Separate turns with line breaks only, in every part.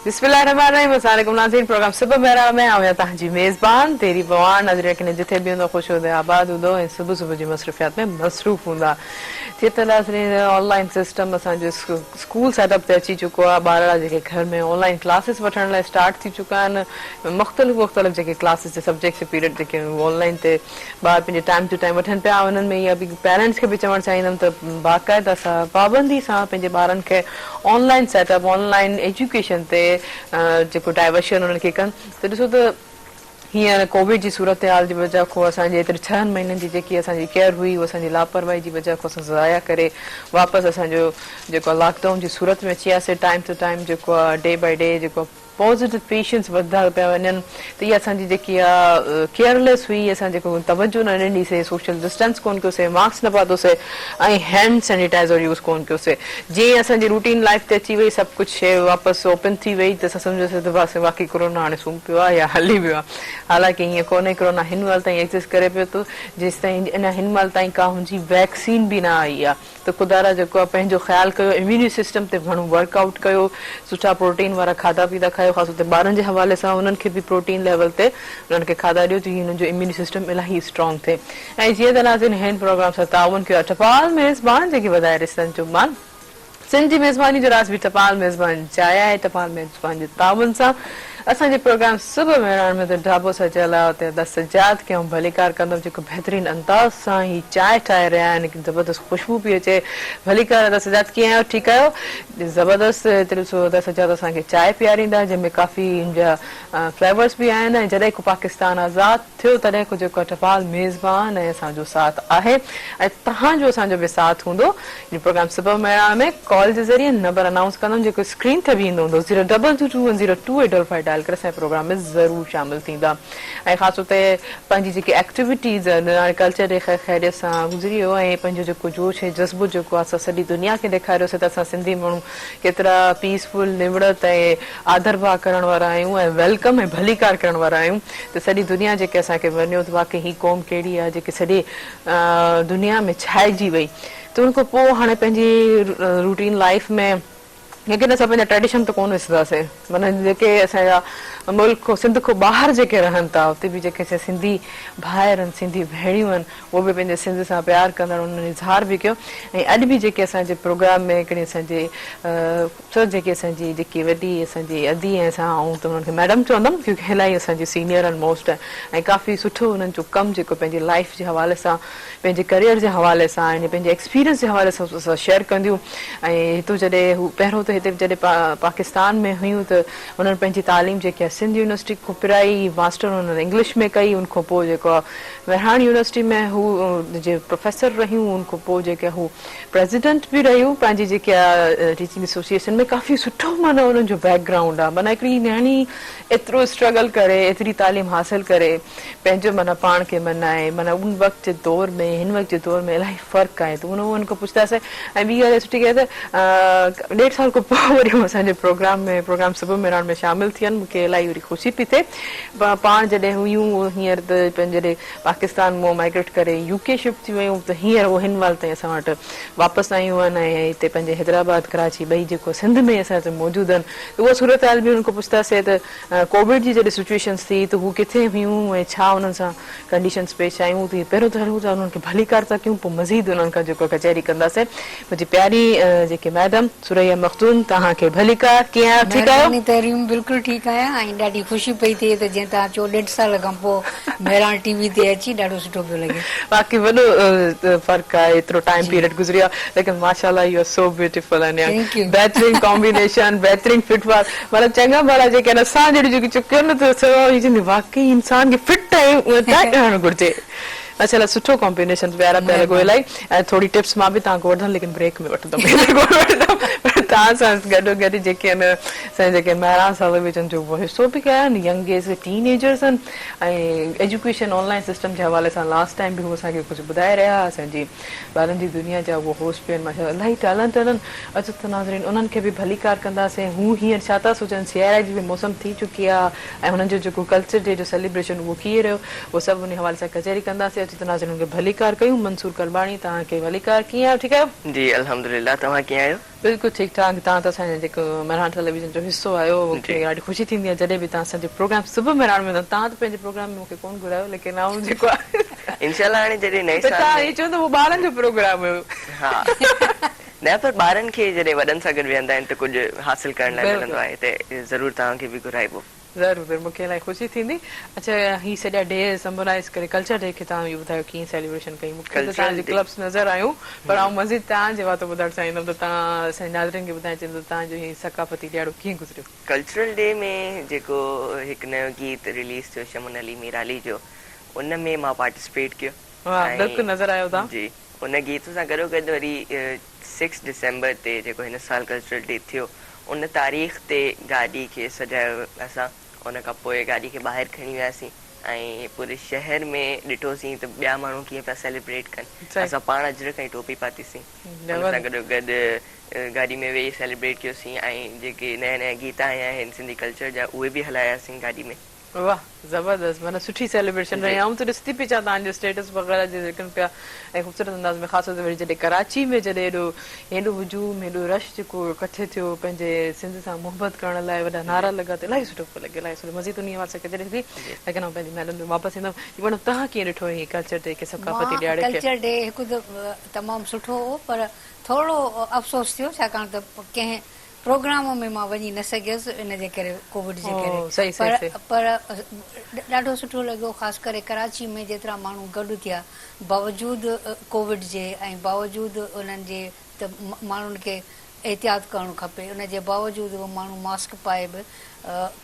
بسم الله الرحمٰن الرحيم السلام عليڪم ناظرين پروگرام صبح مهراڻ ۾ آئون تهان جي ميزبان تيري بواڻ نظري يقينن جٿي به هوندو خوش هوندو آباد هوندو ۽ صبح صبح جي مصروفيات ۾ مصروف هوندا جي ته ناظرين آن لائن سسٽم اسان جو اسڪول سيٽ اپ تي اچي چڪو آهي ٻارڙا جيڪي گهر ۾ آن لائن ڪلاسز وٺڻ لاء اسٽارٽ ٿي چڪا آهن مختلف مختلف جيڪي ڪلاسز جي سبجيڪٽس پيريڊ جيڪي آهن اهي آن لائن تي ٻار پنهنجي ٽائيم ٽو ٽائيم وٺن پيا انهن ۾ اها به پيرنٽس کي به چوڻ چاهيندم ته باقاعده سان پابندي سان پنهنجي ٻارن کي online setup online education تي جيڪو ڊائيورشن انهن کي ڪن ته ڏسو ته هينئر ڪووڊ جي صورتحال جي وجهه کان اسان جي ايتري ڇهن مهينن جي جيڪي اسان جي ڪيئر هئي اها اسان جي لاپرواهي جي وجهه کان اسان ضايع ڪري واپس اسان جو جيڪو آهي لاڪ ڊائون جي صورت ۾ اچي وياسي ٽائيم ٽو ٽائيم جيڪو آهي ڊي بائي ڊي جيڪو پازيٽو پيشنٽس وڌندا پيا وڃن ته اها اسان جي جيڪي آهي ڪيئر ليس هئي اسان جيڪو توجه نه ڏنيسي سوشل ڊسٽنس ڪونه ڪيوسي ماسڪ نه پاتوسي ۽ هينڊ سينيٽائيزر يوز ڪونه ڪيوسي جيئن ئي اسان جي روٽين لائيف تي اچي وئي سڀ ڪجهه شيء واپس اوپن ٿي وئي ته اسان سمجهياسين ته بس واقعي ڪورونا هاڻي سمهي پيو آهي يا هلي ويو آهي حالانڪه هيئن ڪونهي ڪورونا هن مهل تائين ايگزسٽ ڪري پيو ٿو جيستائين اڃا هن مهل تائين ڪا هن جي ويڪسين به نه آئي آهي ته خدا را جيڪو آهي پنهنجو خيال ڪيو اميوني سسٽم تي گهڻو ورڪ آئوٽ ڪيو سٺا پروٽين وارا کاڌا پيتا کايو خاص طور تي ٻارن جي حوالي سان انهن کي به پروٽين ليول تي انهن کي کاڌا ڏيو جيئن هنن جو اميوني سسٽم الاهي اسٽرانگ ٿئي. ۽ جيئن ته ناظرين هن پروگرام سان تعاون ڪيو آهي ٽپال ميزبان جيڪي وڌائي رسن جو مان سنڌ جي ميزباني جو راز به ٽپال ميزبان جاء آهي ٽپال ميزبان جي تعاون سان اسان جي پروگرام صبح مهراڻ ۾ ته ڍابو سجيل آهي اتي ادا سجاد کي آئون ڀليڪار ڪندم جيڪو بهترين انداز سان هي چانهه ٺاهي رهيا آهن زبردست خوشبو پئي اچي ڀليڪار ادا سجاد ڪيئن آهيو ٺيڪ آهيو زبردست هتي ڏسو ادا سجاد اسان کي چانهه پياريندا جنهن ۾ ڪافي ان جا فليورس به آهن ۽ جڏهن ڪو پاڪستان آزاد ٿيو تڏهن ڪجهه ڪٺپال ميزبان ۽ اسان جو ساٿ آهي ۽ توهان جو اسان جو به ساٿ هوندو جو پروگرام صبح مهراڻ ۾ ڪال جي ذريعي نمبر انائونس ڪندم جيڪو اسڪرين تي به ايندو هوندو zero double two two one zero two eight double five dial ڪري اسان جي پروگرام ۾ ضرور شامل ٿيندا ۽ خاص طور تي پنهنجي جيڪي ايڪٽيوٽيز نراڻي ڪلچر ڊي خير خيريت سان گذري ويو ۽ پنهنجو جيڪو جوش ۽ جذبو جيڪو آهي سو سڄي دنيا کي ڏيکاريوسي ته اسان سنڌي ماڻهو ڪيترا پيس فل نوڙت ۽ آڌر ڀاء ڪرڻ وارا آهيون ۽ ويلڪم ۽ ڀليڪار ڪرڻ وارا آهيون ته سڄي دنيا جيڪي اسان کي ورنيو ته واقعي هي قوم ڪهڙي آهي جيڪي سڄي دنيا ۾ ڇائجي وئي ته ان کان پوء هاڻي پنهنجي روٽين لائيف ۾ ليڪن اسان پنهنجا ٽريڊيشن ته ڪونه وسرنداسي معنيٰ جيڪي اسان جا ملڪ کان سنڌ کان ٻاهر جيڪي رهن ٿا اتي به جيڪي اسان سنڌي ڀائر آهن سنڌي ڀيڻيون آهن اهي به پنهنجي سنڌ سان پيار ڪندڙ انهن اظهار به ڪيو ۽ اڄ به جيڪي اسان جي پروگرام ۾ هڪڙي اسان جي ڇو جيڪي اسان جي جيڪي وڏي اسان جي ادي ۽ اسان آئون ته انهن کي ميڊم چوندم ڪيونڪه الائي اسان جي سينيئر آهن موسٽ ۽ ڪافي سٺو انهن جو ڪم جيڪو پنهنجي لائيف جي حوالي سان پنهنجي ڪريئر جي حوالي سان ۽ پنهنجي ايڪسپيرينس جي حوالي سان سو سان شيئر ڪنديون ۽ هتو جڏهن هو پهريون ته هتي جڏهن پا پاڪستان ۾ هيون ته انهن پنهنجي تعليم جيڪي آهي سنڌ يونيورسٽي کون پرائي ماسٽر انهن انگلش ۾ ڪئي ان کون پوء جيڪو آهي مهراڻ يونيورسٽي ۾ هو جي پروفيسر رهيون ان کون پوء جيڪي هو پريزيڊنٽ به رهيو پنهنجي جيڪي آ ٽيچنگ ايسوسيئيشن ۾ ڪافي سٺو معنيٰ انهن جو بيڪ گرائونڊ آ معنيٰ هڪڙي نياڻي ايترو اسٽرگل ڪري ايتري تعليم حاصل ڪري پنهنجو معنيٰ پاڻ کي مڃائي معنيٰ ان وقت جي دور ۾ هن وقت جي دور ۾ الاهي فرق آهي ته ان انهن کان پڇتاسين ۽ ٻي ڳالهه اها سٺي ڳالهه ته ڏيڍ سال کان پوء وري هو اسان جي پروگرام ۾ پروگرام صبح مهراڻ ۾ شامل ٿي آهن مون کي الاهي وري خوشي پئي ٿئي پاڻ جڏهن هيون هينئر ته پنهنجي پاڪستان مان مائگريٽ ڪري يو ڪي شفٽ ٿي ويون ته هينئر اهي هن مهل تائين اسان وٽ واپس آيون آهن ۽ هتي پنهنجي حيدرآباد ڪراچي ٻئي جيڪو سنڌ ۾ اسان وٽ موجود آهن ته اها صورتحال به انهن کان پڇتاسين ته ڪووڊ جي جڏهن سچوئيشنس ٿي ته هو ڪٿي هيون ۽ ڇا انهن سان ڪنڊيشنس پيش آيون ته پهريون ته هلون ٿا انهن کي ڀليڪار ٿا ڪيون پوء مزيد انهن کان جيڪو ڪچهري ڪنداسين. منهنجي پياري جيڪي ميڊم ثريا مخدوم توهان کي ڀليڪار ڪيئن آهيو ٺيڪ آهيو. مھرباني تحريم بلڪل ٺيڪ
آھيان ۽ ڏاڍي خوشي پئي ٿئي ته جئين توھان چئو ڏيڍ سال کان پوء مھراڻ ٽي وي تي اچي ڏاڍو سٺو پيو لڳي. واقعي وڏو
فرق آھي ايترو ٽائيم پيريڊ گذريو آھي ليڪن ماشاءالله يو آر سو بيوٽيفل ۽ بهترين ڪامبينيشن بهترين فٽ ورڪ مطلب چڱا ڀلا جيڪي آھن اسان جهڙيون جيڪي چڪيون نه ٿيون واقعي انسان کي فٽ ۽ ٽائيٽ رهڻ گهرجي. ماشا الله سٺو ڪمبينيشن پيارا پيا لڳو مھرباني الائي ۽ ٿوري ٽپس مان به توھان کي وٺندم ليڪن بريڪ ۾ وٺندم ھيلي ڪونه وٺندم پر توھان سان گڏو گڏ جيڪي ان سائين جيڪي مھراڻ صاحب به جن جو حصو به ڪيا آھن ينگ ايج جي ٽين ايجرز آھن ۽ ايجوڪيشن آن لائين سسٽم جي حوالي سان لاس ٽائيم به ھو اسان کي ڪجھ ٻڌائي رھيا ھئا اسان جي ٻارن جي دنيا جا اھو ھوس پي آھن ماشا الله الائي ٽيلنٽ انھن عزت ناظرين انھن کي به ڀليڪار ڪنداسين ھو ھينئر ڇا ٿا سوچن سياري جي به موسم ٿي چڪي آ ۽ هنن جو جيڪو ڪلچر ڊي جو سيليبريشن اهو ڪيئي رهيو اهو سڀ انهي حوالي سان ڪچهري ڪنداسين اچو ته ناظرين هنن کي ڀليڪار ڪيون منصور ڪرٻاڻي توهان کي
ڀليڪار
ڪيئن آهيو
ٺيڪ آهيو.
جي الحمدلله توهان ڪيئن
آهيو.
بلڪل ٺيڪ ٺاڪ تهان ته اسان جي جيڪو مهراڻ ٽيليويزن جو حصو آهيو مون کي ڏاڍي خوشي ٿيندي آهي جڏهن به تهان اسان جي پروگرام صبح مهراڻ ۾ تهان ته پنهنجي پروگرام ۾ مون کي ڪون گهرايو ليڪن آئون جيڪو آهي انشاء الله هاڻي
جڏهن نئين سال ۾ تهان هي چوندو هو ٻارن جو
پروگرام هيو ها
نه پر ٻارن کي جڏهن وڏن سان گڏ ويهندا آهن ته ڪجهه حاصل ڪرڻ لاء ملندو بلڪل. آهي ته ضرور توهان کي به گهرائبو. ضرور ضرور مونکي الائي
خوشي ٿيندي. اڇا هي سڄا ڊي سمبولائز ڪري ڪلچر ڊي کي توهان اهو ٻڌايو ڪيئن سيليبريشن ڪئي مونکي ته توهان ڪلچرل جي ڊي ڪلپس نظر آيون پر آئون مزيد توهان جي واتو ٻڌڻ چاهيندم ته توهان اسانجي ناظرين کي ٻڌائي چيندو ته توهان جو هي ثقافتي ڏيهاڙو ڪيئن گذريو. ڪلچرل ڊي ۾
جيڪو هڪ نيو گيت رليز ٿيو شمن علي ميرالي جو ان ۾ مان پارٽيسپيٽ ڪيو واه ۽ بلڪل نظر
آيو توهان. جي. هن گيت
سان گڏوگڏ وري سڪس ڊسمبر تي جيڪو هن سال ڪلچرل ڊي ٿيو ان تاريخ تي گاڏي کي سجايو اسان ان کان پوء گاڏي کي ٻاهر کڻي وياسين ۽ پوري شهر ۾ ڏٺوسين ته ٻيا ماڻهو ڪيئن پيا سيليبريٽ ڪن اسان پاڻ اجرڪ ۽ ٽوپي پاتي سين ان سان گڏوگڏ گاڏي ۾ ويهي سيليبريٽ ڪيوسين ۽ جيڪي نيا نيا گيت آيا آهن سنڌي ڪلچر جا اهي به هلاياسين گاڏي ۾ واه زبردست
معنيٰ سٺي سيلبريشن رهي جي. آئون ته ڏسي ٿي پئي اچان تهان جو اسٽيٽس وغيره جي ذڪر پيا ۽ خوبصورت انداز ۾ خاص طور تي جڏهن ڪراچي ۾ جڏهن هيڏو هيڏو هجوم هيڏو رش جيڪو ڪٺي ٿيو پنهنجي سنڌ سان محبت ڪرڻ لاء وڏا جي. نعرا لڳا ته الائي سٺو پيو لڳي الائي سٺو مزيد انهي حوالي سان ڪٿي ڏسي جي. ليڪن آئون پنهنجي محلن ۾ واپس ايندم جي ميڊم تهان کي ڏٺو هي ڪلچر ڊي کي ثقافتي مان ڏهاڙي کي. ڪلچر ڊي هڪ ته
تمام سٺو هو پر ٿورڙو افسوس ٿيو ڇاڪاڻ ته ڪنهن پروگرام ۾ مان وڃي نه سگهيس ان جي ڪري ڪووڊ جي ڪري پر پر ڏاڍو سٺو لڳو خاص ڪري ڪراچي ۾ جيترا ماڻهو گڏ ٿيا باوجود ڪووڊ جي ۽ باوجود انهن جي ته ماڻهن کي احتياط ڪرڻ کپي ان جي باوجود به ماڻهو ماسڪ پائي به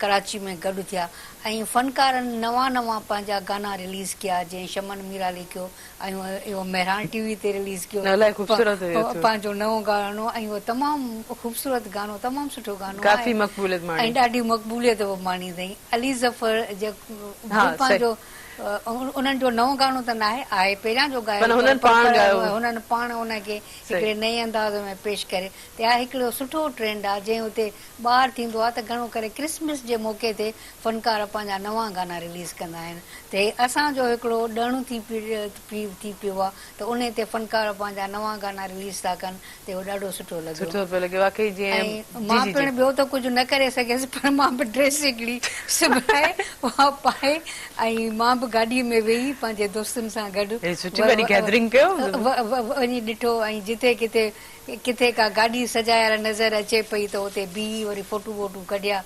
ڪراچي ۾ گڏ ٿيا ۽ فنڪارن نوان نوان پنهنجا گانا رليز ڪيا جيئن شمن ميرالي ڪيو اهو اهو مهراڻ ٽي وي تي رليز ڪيو الائي خوبصورت هيو اٿو پنهنجو نئون گاڻو ۽ اهو تمام خوبصورت گاڻو تمام سٺو گاڻو آهي ڪافي مقبوليت ماڻي ۽ ڏاڍي مقبوليت به ماڻي اٿئي علي ظفر جي ها صحيح پنهنجو انهن جو نئون گاڻو ته ناهي آهي پهريان جو گايو پر هنن پاڻ گايو پر هنن پاڻ ان کي صحيح هڪڙي نئين انداز ۾ پيش ڪري ته اهو هڪڙو سٺو ٽرينڊ آهي جنهن اتي ٻار ٿيندو آهي ته گهڻو ڪري ڪرسمس جي موقعي تي فنڪار پنهنجا نوان گانا رليز ڪندا آهن ته هي اسان جو هڪڙو ڏڻ ٿي پيو آهي ته انهي تي فنڪار پنهنجا نوان گانا رليز ٿا ڪن ته اهو ڏاڍو سٺو لڳيو سٺو پيو لڳي واقعي جي ۽ مان پڻ ٻيو ته ڪجهه نه ڪري سگهيس پر مان به ڊريس هڪڙي سبائي اها پائي ۽ مان به گاڏي ۾ ويهي پنهنجي دوستن سان گڏ وڃي ڏٺو ۽ جتي ڪٿي ڪٿي ڪا گاڏي سجايل نظر اچي پئي ته اتي بيهي وري فوٽو ووٽو ڪڍيا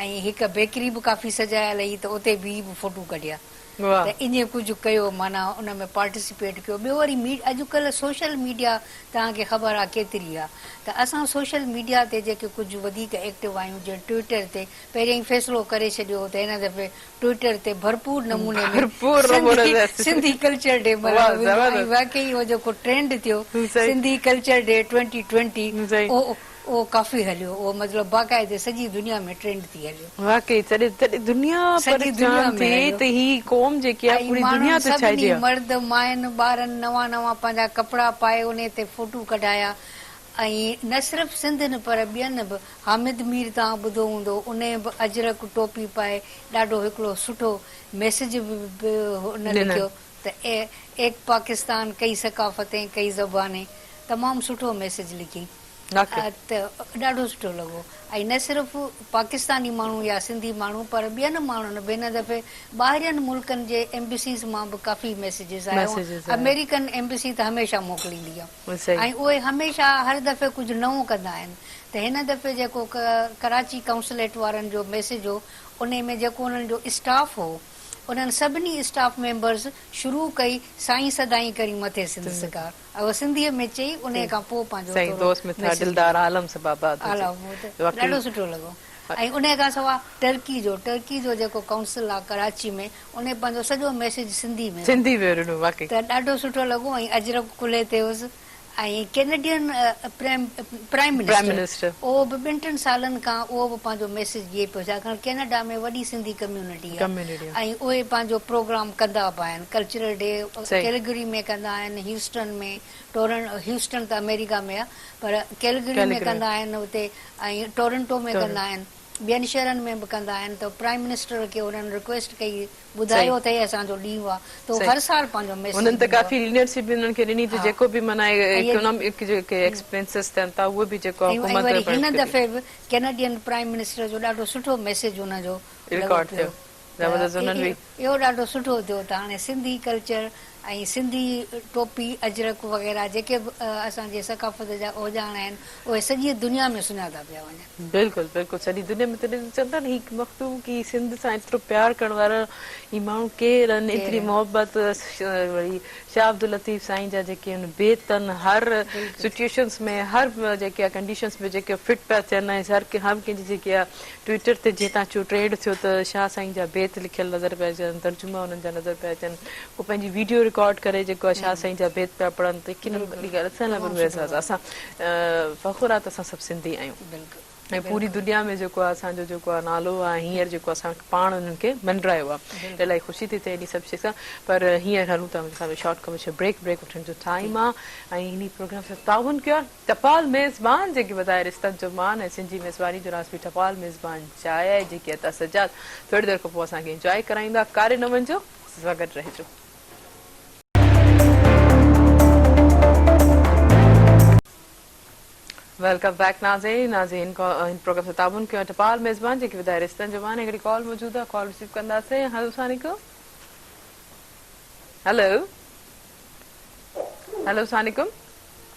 ۽ هڪ بيڪري به ڪافي سجايل هئي ته اتي بيهي به فوٽو ڪڍيا ته ايئن ڪجهه ڪيو معنيٰ ان ۾ پارٽيسپيٽ ڪيو ٻيو وري اڄڪلهه سوشل ميڊيا توهان کي خبر آهي ڪيتري آهي ته اسان سوشل ميڊيا تي جيڪي ڪجهه وڌيڪ ايڪٽو آهيون جيئن ٽوئيٽر تي پهريائين فيصلو ڪري ڇڏيو هو ته هن دفعي ٽوئيٽر تي ڀرپور نموني ۾ سنڌي ڪلچر ڊي ملهايو ويندو ۽ واقعي اهو جيڪو ٽرينڊ ٿيو Sindhi culture day twenty twenty اهو ڪافي هليو اهو مطلب باقاعدي سڄي دنيا ۾ ٽرينڊ ٿي هليو واقعي سڄي
دنيا پريشان ٿي ته هي قوم
جيڪي آهي پوري دنيا تي ڇائجي وئي مڙد ماين ٻارن نوان نوان پنهنجا ڪپڙا پائي انهي تي فوٽو ڪڍايا ائين نه صرف سنڌين پر ٻين به حامد مير توهان ٻڌو هوندو انهي به اجرڪ ٽوپي پائي ڏاڍو هڪڙو سٺو ميسج به ان لکيو ته ايڪ پاڪستان ڪئي ثقافتين ڪئي زبانين تمام سٺو ميسج لکين ته ڏاڍو سٺو لڳو ۽ نه صرف پاڪستاني ماڻهو يا سنڌي ماڻهو پر ٻين ماڻهن به هن دفعي ٻاهرين ملڪن جي ايمبسيز مان به ڪافي ميسجز آيا هئا امريڪن ايمبسي ته هميشه موڪليندي آ. ۽ اهي هميشه هر دفعي ڪجهه نئون ڪندا آهن ته هن دفعي جيڪو ڪراچي ڪائونسليٽ وارن جو ميسيج هو انهي ۾ جيڪو انهن جو اسٽاف هو انهن سڀني اسٽاف ميمبرز شروع ڪئي سائين سدائين ڪرين مٿي سنڌ سگهار اهو سنڌي ۾ چئي انهي کان پوء پنهنجو ٿورو ميسيج ڏنو ڏاڍو سٺو لڳو ۽ انهي کان سوا ٽرڪي جو ٽرڪي جو جيڪو ڪائونسل آهي ڪراچي ۾ انهي پنهنجو سڄو ميسيج سنڌي ۾ ڏنو. سنڌي ۾ ڏنو واقعي. ته ڏاڍو سٺو لڳو ۽ اجرڪ ڪلهي تي هيس ۽ Canadian prime prime prime minister minister. اهو به ٻن ٽن سالن کان اهو به پنهنجو ميسيج ڏئي پيو ڇاڪاڻ ڪينيڊا ۾ وڏي سنڌي ڪميونٽي آهي ڪميونٽي آهي. ۽ اهي پنهنجو پروگرام ڪندا به آهن ڪلچرل ڊي صحيح. ڪيلگري ۾ ڪندا آهن هيوسٽن ۾ ٽورن هيوسٽن ته آمريڪا ۾ آهي پر ڪيلگري ۾ ڪيلگري. ڪندا آهن اتي ۽ ٽورنٽو ۾ ٽورنٽو. ڪندا آهن. ٻين شهرن ۾ به ڪندا آهن ته پرائيم منسٽر کي انهن رڪويسٽ ڪئي ٻڌايو صحيح اٿئي اسان جو ڏينهن آهي ته هو صحيح هر سال پنهنجو ميسج انهن ته ڏيندو ڪافي آهي ليڊر شپ
به انهن کي ڏني ته ها جيڪو به معنيٰ ۽ اهي اڪنامڪ جيڪي ۽ ايڪسپينسز ٿين ٿا اهي به جيڪو آهي حڪومت وري هن پڻ ڪري دفعي
به ڪينيڊين پرائيم منسٽر جو ڏاڍو سٺو ميسج ان جو لڳو رڪارڊ ٿيو پيو
ته زبردست انهن به
اهو ڏاڍو سٺو ٿيو ته هاڻي سنڌي ڪلچر ۽ سنڌي ٽوپي اجرڪ وغيره جيڪي به اسان جي ثقافت جا اوزاڻ آهن اهي سڄي دنيا ۾ سڃاتا پيا وڃن. بلڪل بلڪل سڄي
دنيا ۾ تڏهن چون ٿا نه هي مخدوم ڪي سنڌ سان ايترو پيار ڪرڻ وارا هي ماڻهو ڪير آهن ڪير ايتري آهن. محبت وڙي شاهه عبداللطيف سائين جا جيڪي ان بيتن هر بلڪل. سچوئيشنس ۾ هر جيڪي آهي ڪنڊيشنس ۾ جيڪي فٽ پيا ٿين ۽ هر ڪنهن جي جيڪي آهي ٽوئيٽر تي جيئن تان چيو ٽريڊ ٿيو ته شاهه سائين جا بيت لکيل نظر پيا اچن ترجما انهن جا نظر پيا اچن هو پنهنجي ويڊيو رڪارڊ ڪري جيڪو آهي شاهه سائين جا بيت پيا پڙهن ته يقينن اهڙي ڳالهه اسان لاء به روح اعزاز آهي اسان فخر آهي ته اسان سڀ سنڌي آهيون ۽ پوري دنيا ۾ جيڪو آهي اسان جو جيڪو آهي نالو آهي هينئر جيڪو اسان پاڻ انهن کي منڊرايو آهي ته الائي خوشي ٿي ٿئي انهي سڀ شي سان پر هينئر هلون ٿا منهنجي خيال ۾ شارٽ ڪمرشل بريڪ بريڪ وٺڻ جو ٽائيم آهي ۽ انهي پروگرام سان تعاون ڪيو آهي ٽپال ميزبان جيڪي وڌائي رشتن جو مان ۽ سنڌي ميزباني جو ناز پي ٽپال ميزبان جاء آهي جيڪي عطا سجاد ٿوري دير کان پوء اسان کي انجواء ڪرائيندا ڪاري نه وڃجو اسان سان گڏ رهجو. ويلڪم بيڪ ناظرين ناظرين هن پروگرام سان تعاون ڪيو ٽپال ميزبان جيڪي وڌائي رشتن جو مان هڪڙي ڪال موجود آهي ڪال رسيو ڪنداسين هلو السلام عليڪم هلو هلو السلام عليڪم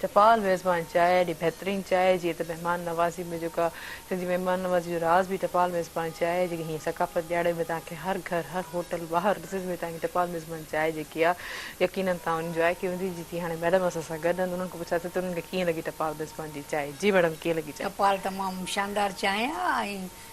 چپال ميزبان چانهه ايڏي بهترين چانهه جيئن ته مهمان نوازي ۾ جيڪا سنڌ جي مهمان نوازي جو راز به چپال ميزبان چانهه جيڪي هينئر ثقافت ڏياڙي ۾ توهان کي هر گهر هر هوٽل ٻاهر ڏسز ۾ توهان کي چپال ميزبان چانهه جيڪي آ يقينن توهان انجواء ڪئي هوندي جتي هاڻي ميڊم اسان سان گڏ آهن انهن کان پڇاسين ته انهن کي ڪيئن لڳي چپال ميزبان جي چانهه جي ميڊم ڪيئن لڳي چانهه. چپال تمام شاندار
چانهه آ ۽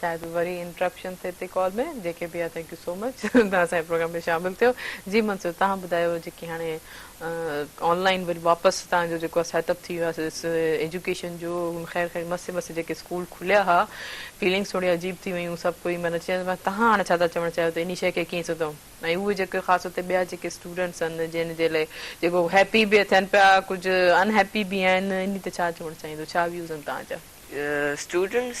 شايد وري انٽرپشن ٿئي ٿي ڪال ۾ جيڪي به آ ٿينڪ يو سو مچ تون اسان جي پروگرام ۾ شامل ٿيو جي منصور تهان ٻڌايو جيڪي هاڻي آن لائين وري واپس تهان جو جيڪو سيٽ اپ ٿي ويو ايجوڪيشن جو خير خير مس مس جيڪي اسڪول کليا ها فيلنگس ٿوري عجيب ٿي ويون سڀ ڪوئي معنيٰ چي تهان هاڻي ڇا ٿا چوڻ چاهيو ته اني شي کي ڪيئن سڌو ۽ اهي جيڪي خاص طور تي ٻيا جيڪي اسٽوڊنٽس آهن جن جي لاء جيڪو هيپي به ٿين پيا ڪجهه ان هيپي به آهن اني تي ڇا چوڻ چاهيندو ڇا ويوز آهن تهان جا اسٽوڊنٽس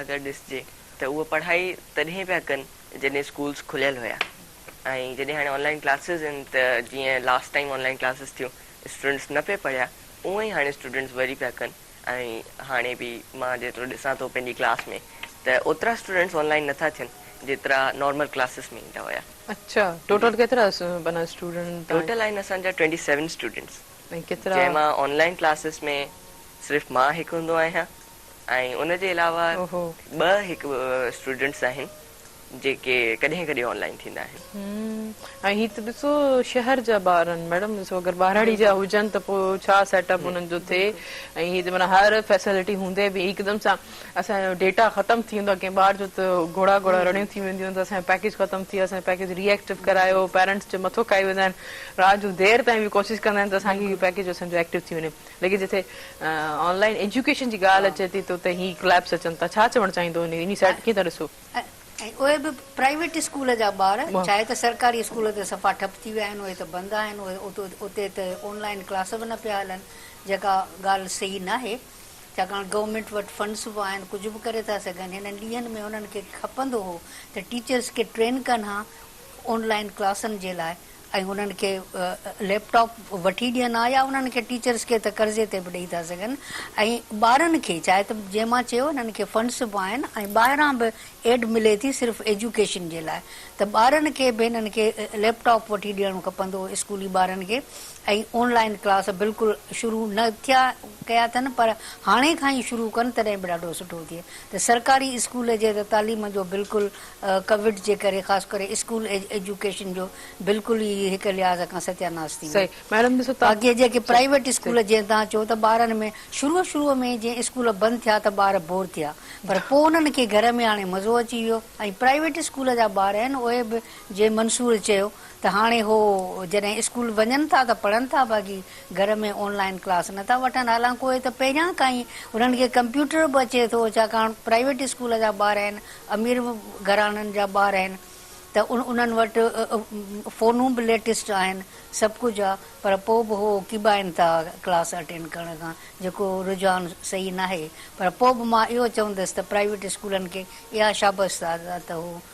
اگر ڏسجي ته اهو پڙهائي تڏهن پيا ڪن جڏهن اسڪولز کليل هيا ۽ جڏهن هاڻي آن لائن ڪلاسز آهن ته جيئن last time online classes ٿيون اسٽوڊنٽس نه پئي پڙهيا اونئن ئي هاڻي اسٽوڊنٽس وري پيا ڪن ۽ هاڻي به مان جيترو ڏسان ٿو پنهنجي ڪلاس ۾ ته اوترا اسٽوڊنٽس آن لائن نٿا ٿين جيترا نارمل ڪلاسز ۾ ايندا هيا. اچا ٽوٽل
ڪيترا اسٽوڊنٽ ٽوٽل آهن اسان جا
ٽوئنٽي سيون اسٽوڊنٽس ۽ ڪيترا. جنهن
مان آن لائين ڪلاسز
۾ صرف مان هڪ هوندو آهيان ۽ ان جي علاوه اوهو. ٻه هڪ اسٽوڊنٽس آهن جيڪي ڪڏهن ڪڏهن آن لائين ٿيندا آهن. هم ۽ هي ته ڏسو
شهر جا ٻار آهن ميڊم ڏسو اگر ٻهراڙي جا بلڪل هجن ته پوء ڇا سيٽ اپ انهن جو ٿئي بلڪل. ۽ هي ته معنيٰ هر فيسلٽي هوندي به هڪدم سان. اسان جو ڊيٽا ختم ٿي ويندو آ ڪنهن ٻار جو ته گهوڙا گهوڙا رڙيون ٿي وينديون آهن ته اسان جو پيڪيج ختم ٿي ويو اسان جو پيڪيج ري ايڪٽو ڪرايو پيرنٽس جي مٿو کائي ويندا آهن رات جو دير تائين به ڪوشش ڪندا آهن ته اسان کي هي پيڪيج اسان جو ايڪٽو ٿي وڃي ليڪن جتي آن لائن ايجوڪيشن جي ڳالهه اچي ٿي ته اتي هي ڪليپس اچن ٿا ڇا چوڻ چاهيندو انهي انهي سائيڊ ڪيئن ٿا ڏسو؟ ۽ اهي به
پرائيويٽ اسڪول جا ٻار چاهي ته سرڪاري اسڪول ته صفا ٺپ ٿي ويا آهن اهي ته بند آهن اتي ته آن لائن ڪلاس به نه پيا هلن جيڪا ڳالهه صحيح ناهي. ڇاڪاڻ گورنمينٽ وٽ فنڊس به آهن ڪجهه به ڪري ٿا سگهن هنن ڏينهن ۾ هنن کي کپندو هو ته ٽيچرس کي ٽرين ڪن ها آن لائين ڪلاسن جي لاء ۽ هنن کي ليپ ٽاپ وٺي ڏين ها يا انهن کي ٽيچرس کي ته قرضي تي به ڏئي ٿا سگهن ۽ ٻارن کي چاهي ته جئين مان چيو هنن کي فنڊس به آهن ۽ ٻاهران به ايڊ ملي ٿي صرف ايجوڪيشن جي لاء ته ٻارن کي به هنن کي ليپ ٽاپ وٺي ڏيڻو کپندو هو اسڪولي ٻارن کي ۽ آن لائين ڪلاس بلڪل شروع نه ٿيا ڪيا اٿن پر هاڻي کان ئي شروع ڪن تڏهن به ڏاڍو سٺو ٿئي ته سرڪاري اسڪول جي ته تعليم جو بلڪل ڪووڊ جي ڪري خاص ڪري اسڪول ايجوڪيشن جو بلڪل ئي هڪ لحاظ کان ستياناس ٿي ويو باقي جيڪي پرائيويٽ اسڪول جيئن توهان چئو ته ٻارن ۾ شروع شروع ۾ جيئن اسڪول بند ٿيا ته ٻار بور ٿيا پر پوء انهن کي گهر ۾ هاڻي مزو اچي ويو ۽ پرائيويٽ اسڪول جا ٻار آهن اهي به جيئن منصور چيو ته هاڻي هو جڏهن اسڪول وڃن ٿا ته پڙهن ٿا باقي گهر ۾ آن لائين ڪلاس نه ٿا وٺن حالانڪوء ته پهريان کان ئي انهن کي ڪمپيوٽر به اچي ٿو ڇاڪاڻ پرائيويٽ اسڪول جا ٻار آهن امير گهراڻن جا ٻار آهن ته انهن وٽ فونون به ليٽسٽ آهن سڀ ڪجهه آ پر پوء به هو ڪيٻائين ٿا ڪلاس اٽينڊ ڪرڻ کان جيڪو رجحان صحيح ناهي پر پوء به مان اهو چوندس ته پرائيويٽ اسڪولن کي اها شابس آ ته هو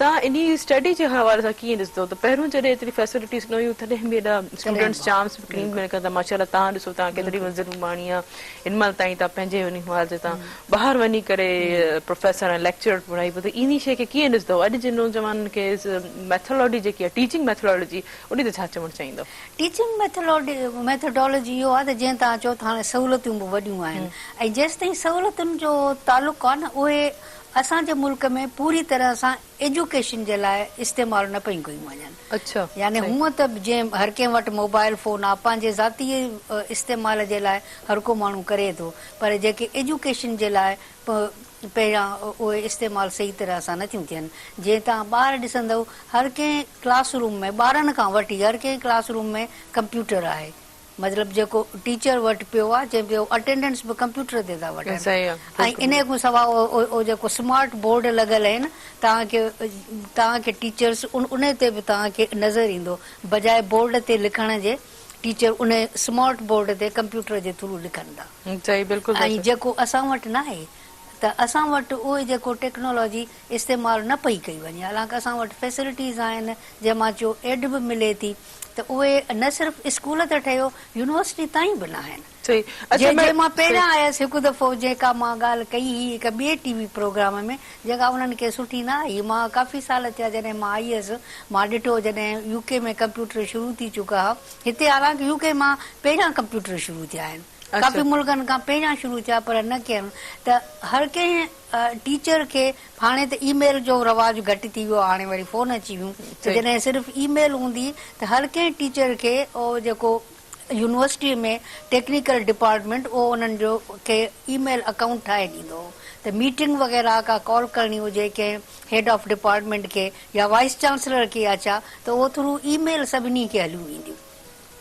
تان انهي اسٽڊي جي حوالي سان ڪيئن ڏسندو ته پهريون جڏهن ايتري فيسلٽيز نه هيون تڏهن به هيڏا تڏهن اسٽوڊنٽس به جام اسڪرين بلڪل ۾ ماشاءالله تان ڏسو تان ڪيتري بلڪل منزل ماڻي آ هن مهل تائين تان پنهنجي انهي حوالي سان تان ٻاهر وڃي ڪري پروفيسر ۽ ليڪچرر پڙهائي پيو ته انهي شئي کي ڪيئن ڏسندو اڄ جي نوجوانن کي ميٿالاڊي جيڪي آ ٽيچنگ ميٿالاڊجي انهي تي ڇا چوڻ چاهيندو. ٽيچنگ ميٿالاڊي
ميٿاڊالاجي اهو آ ته جيئن تان چئو ته هاڻي سهولتيون به وڏيون آهن ۽ جيستائين سهولتن جو تعلق آ نه اهي اسان جي ملڪ ۾ پوري طرح سان ايجوڪيشن جي لاء استعمال نه پيون ڪيون وڃن. يعني هونئن
ته
جئين هر ڪنهن وٽ موبائل فون آ پنهنجي ذاتي استعمال جي لاء هر ڪو ماڻهو ڪري ٿو پر جيڪي ايجوڪيشن جي لاء پهريان اهي استعمال صحيح طرح سان نه ٿيون ٿين جئين توهان ٻاهر ڏسندؤ هر ڪنهن ڪلاس روم ۾ ٻارن کان وٺي هر ڪنهن ڪلاس روم ۾ ڪمپيوٽر آهي. مطلب جيڪو ٽيچر وٽ پيو آ چئين پيو اٽينڊنس به ڪمپيوٽر تي ٿا وٺن ۽ انهي کان سواء اهو جيڪو سمارٽ بورڊ لڳل آهن توهان کي توهان کي ٽيچرس انهي تي به توهان کي نظر ايندو بجاء بورڊ تي لکڻ جي ٽيچر انهي سمارٽ بورڊ تي ڪمپيوٽر جي ٿرو لکن ٿا ۽ جيڪو اسان وٽ ناهي ته اسان وٽ اهي جيڪو ٽيڪنالاجي استعمال نه پئي ڪئي وڃي حالانڪ اسان وٽ فيسلٽيز آهن جنهن مان جو ايڊ به ملي ٿي ته اهي نه صرف اسڪول ته ٺهيو يونيورسٽي تائين به ناهن جي جي مان پهريان آيس هڪ دفعو جيڪا مان ڳالهه ڪئي هئي هڪ ٻئي ٽي وي پروگرام ۾ جيڪا انهن کي سٺي نه آئي مان ڪافي سال ٿيا جڏهن مان آئي هيس مان ڏٺو جڏهن يو ڪي ۾ ڪمپيوٽر شروع ٿي چڪا ها هتي حالانڪ يو ڪي مان پهريان ڪمپيوٽر شروع ٿيا آهن ڪافي ملڪن کان پهريان شروع ٿيا پر نه ڪين ته هر ڪنهن ٽيچر کي هاڻي ته اي ميل جو رواج گهٽ ٿي ويو آهي هاڻي وري فون اچي ويون ته جڏهن صرف اي ميل هوندي ته هر ڪنهن ٽيچر کي او جيڪو يونيورسٽي ۾ ٽيڪنيڪل ڊپارٽمينٽ اهو انهن جو کي اي ميل اڪائونٽ ٺاهي ڏيندو هو ته ميٽنگ وغيره ڪا ڪال ڪرڻي هجي ڪنهن هيڊ آف ڊپارٽمينٽ کي يا وائيس چانسلر کي يا ڇا ته اهو ٿرو اي ميل سڀني کي هليون وينديون.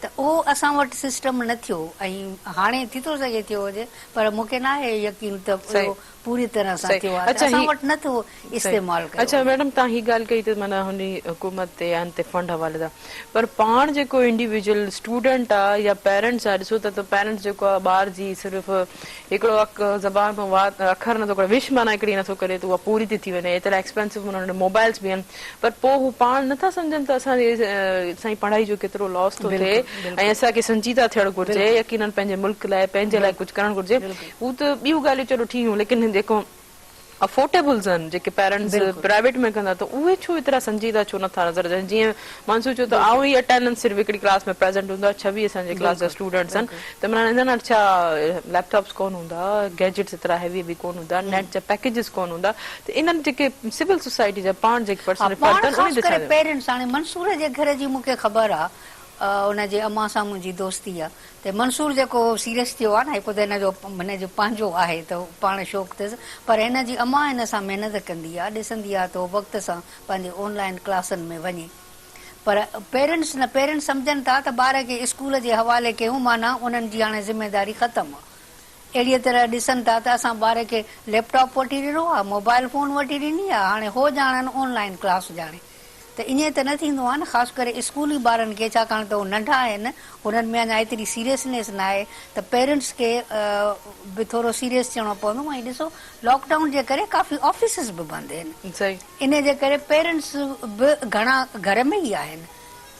ته اهو اسان وٽ سسٽم نه ٿيو ۽ هاڻي ٿي ٿو سگهي ٿيو هجي پر مون کي ناهي يقين ته اهو پوري طرح سان ٿيو آهي ته اسان وٽ نه ٿو استعمال ڪيو وڃي. اچا ميڊم توهان هي ڳالهه
ڪئي ته معنيٰ هن حڪومت تي ان تي فنڊ حوالي سان پر پاڻ جيڪو انڊيويجول اسٽوڊنٽ آ يا پيرنٽس آ ڏسو ته پيرنٽس جيڪو آ ٻار جي صرف هڪڙو اک زبان کان وات اکر نه ٿو ڪڍي وش معنيٰ هڪڙي نه ٿو ڪري ته اها پوري ٿي ٿي وڃي ايترا ايڪسپينسو انهن وٽ موبائلس به آهن پر پوء هو پاڻ نه ٿا سمجهن ته اسان جي سائين پڙهائي جو ڪيترو لاس ٿو ٿئي بلڪل ۽ بلڪل اسان کي سنجيده ٿيڻ گهرجي بلڪل يقينن پنهنجي ملڪ لاء پنهنجي لاء بلڪل ڪجهه ڪرڻ گهرجي بلڪل هو ته ٻيون ڳالهيون چلو ٺيڪ هيون ليڪن جيڪو افورٽيبلز آهن جيڪي پيرنٽس بلڪل پرائيويٽ ۾ ڪن ٿا ته اهي ڇو ايترا سنجيده ڇو نه ٿا نظر اچن جيئن مانسو چيو ته آئون بلڪل ئي اٽينڊنس صرف هڪڙي ڪلاس ۾ پريزنٽ هوندو آهي ڇويهه اسان جي ڪلاس جا بلڪل اسٽوڊنٽس آهن بلڪل ته عمران انهن وٽ ڇا ليپ ٽاپس ڪون هوندا گيجٽس ايترا هيوي هيوي ڪون هوندا نيٽ جا پيڪيجز ڪون هوندا ته انهن جيڪي سول سوسائٽي جا پاڻ جيڪي پرسنل ها پاڻ فرد آهن انهن خاص تي ڪري ڇا چئو؟ پيرنٽس هاڻي منصور
جي گهر جي مون کي خبر آ ان جي امان سان منهنجي دوستي آ ته منصور جيڪو سيريس ٿيو آ نه هڪ ته هن جو هن جو پنهنجو آهي ته پاڻ شوق اٿس پر هن جي امان هن سان محنت ڪندي آ ڏسندي آ ته هو وقت سان پنهنجي آن لائين ڪلاسن ۾ وڃي پر پيرنٽس نه پيرنٽس سمجهن ٿا ته ٻار کي اسڪول جي حوالي ڪيون معنيٰ انهن جي هاڻي ذميداري ختم آ. اهڙيء طرح ڏسن ٿا ته اسان ٻاري کي ليپ ٽاپ وٺي ڏنو آ، موبائيل فون وٺي ڏني آ، هاڻي هو ڄاڻن آن لائين ڪلاس ڄاڻي ته ائين ته نه ٿيندو آهي نه خاص ڪري اسڪولي ٻارن کي ڇاڪاڻ ته هو ننڍا آهن هنن ۾ اڃا ايتري سيريسنيس ناهي ته پيرنٽس کي به ٿورو سيريس ٿيڻو پوندو ۽ ڏسو لاڪ ڊائون جي ڪري ڪافي آفيسز به بند هين انهي جي ڪري پيرنٽس به گهڻا گهر ۾ ئي آهن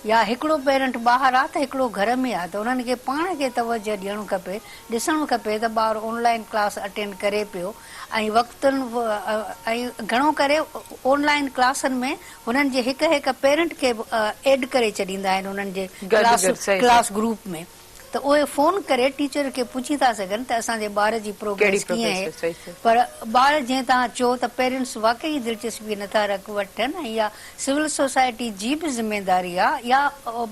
يا هڪڙو پيرنٽ ٻاهر آ ته هڪڙو گهر ۾ آ ته انهن کي پاڻ کي توجه ڏيڻ کپي ڏسڻ کپي ته ٻار اون لائين ڪلاس اٽينڊ ڪري پيو ۽ وقتن ۽ گهڻو ڪري اون لائين ڪلاسن ۾ هنن جي هڪ هڪ پيرنٽ کي به ايڊ ڪري ڇڏيندا آهن انهن جي ڪلاس ڪلاس گروپ ۾ ته اهي فون ڪري ٽيچر کي پڇي ٿا سگهن ته اسان جي ٻار جي پروگريس ڪيئن آهي پر ٻار جئين توهان چئو ته پيرنٽس واقعي دلچسپي نه ٿا رک وٺن ۽ اها سول سوسائٽي جي به ذميداري آهي يا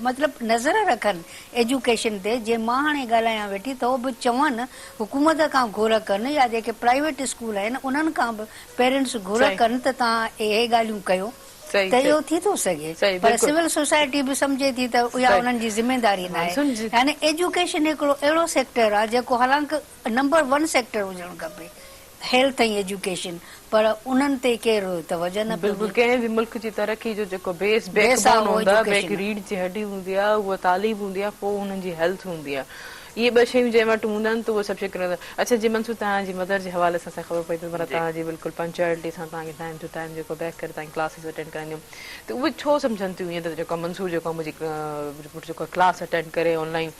مطلب نظر رکن ايجوڪيشن تي جنهن مان هاڻي ڳالهايان ويٺي ٿو به چون حڪومت کان گهر ڪن يا جيڪي پرائيويٽ اسڪول آهن انهن کان به پيرنٽس گهر ڪن ته توهان اهي ڳالهيون ڪيو ته اهو ٿي ٿو سگهي پر سول سوسائٽي به سمجهي ٿي ته اها انهن جي ذميداري ناهي يعني ايجوڪيشن هڪڙو اهڙو سيڪٽر آهي جيڪو حالانڪ نمبر ون سيڪٽر هجڻ کپي هيلٿ ۽ ايجوڪيشن پر انهن تي ڪير توجهه نه پيو ڏي. ڪنهن به ملڪ جي
ترقي جو جيڪو بيس بيڪ بون هوندو آهي بيڪ ريڙهه جي هڏي هوندي آهي اهو تعليم هوندي آهي پوء انهن جي هيلٿ هوندي آهي. اهي ٻه شيون جنهن وٽ هوندا آهن ته اهي سڀ شيون ڪري ويندا آهن. اڇا جي منصور توهان جي مدر جي حوالي سان اسان کي خبر پئي ته مطلب جي. توهان جي بلڪل پنچوئلٽي سان توهان کي ٽائيم ٽو ٽائيم جيڪو بيڪ ڪري توهان جي ڪلاسز اٽينڊ ڪرائينديون ته اهي ڇو سمجهن ٿيون ائين ته جيڪو منصور جيڪو آهي منهنجي پٽ جيڪو آهي ڪلاس اٽينڊ ڪري آن لائين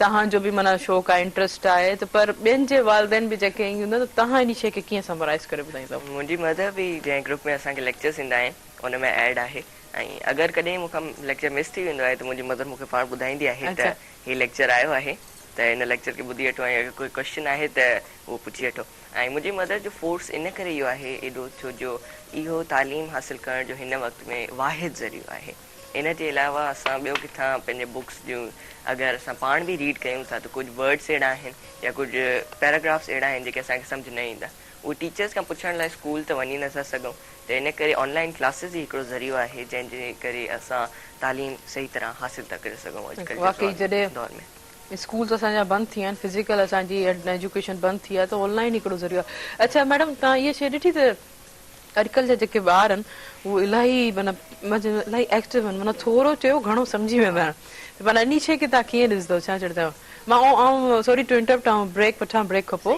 توهان جو به معنيٰ شوق آهي انٽرسٽ آهي ته پر ٻين جي والدين به جيڪي ائين هوندا ته توهان انهي شيء کي ڪيئن سمرائيز ڪري ٻڌائيندؤ. منهنجي مدر به
جنهن گروپ ۾ اسان کي ليڪچرز ايندا آهن ان ۾ ايڊ آهي ۽ اگر ڪڏهن مون کان ليڪچر مس ٿي ويندو آهي ته منهنجي مدر مون کي پاڻ ٻڌائيندي آهي ته اڇا. هي ليڪچر آيو آهي ته هن ليڪچر کي ٻڌي وٺو ۽ اگر ڪوئي ڪوئسچن آهي ته اهو پڇي وٺو ۽ منهنجي مدر جو فورس ان ڪري اهو آهي ايڏو ڇو جو اهو تعليم حاصل ڪرڻ جو هن وقت ۾ واحد ذريعو آهي ان جي علاوه اسان ٻيو ڪٿان پنهنجي بڪس جون اگر اسان پاڻ به ريڊ ڪيون ٿا ته ڪجهه ورڊس اهڙا آهن يا ڪجهه پيراگرافس اهڙا آهن جيڪي اسان کي سمجهه نه ايندا اهو ٽيچرز کان پڇڻ لاء اسڪول ته وڃي نٿا سگهون ته ان ڪري آن لائين ڪلاسز ئي هڪڙو ذريعو آهي جنهن جي ڪري اسان تعليم صحيح طرح حاصل ٿا ڪري سگهون اڄڪلهه جي واقعي جڏهن دور ۾. اسڪولز اسان جا
بند ٿي ويا آهن فزيڪل اسان جي ايجوڪيشن بند ٿي آهي ته آن لائين هڪڙو ذريعو آهي اڇا ميڊم توهان اها شيء ڏٺي ته اڄڪلهه جا جيڪي ٻار آهن اهو الاهي معنيٰ الاهي ايڪٽو آهن معنيٰ ٿورو چيو گهڻو سمجهي ويندا آهن ته معنيٰ انهي شيء کي توهان ڪيئن ڏسدو ڇا چيڻ چاهيو مان آئون سوري ٽو انٽرپٽ آئون بريڪ وٺان بريڪ کان پوء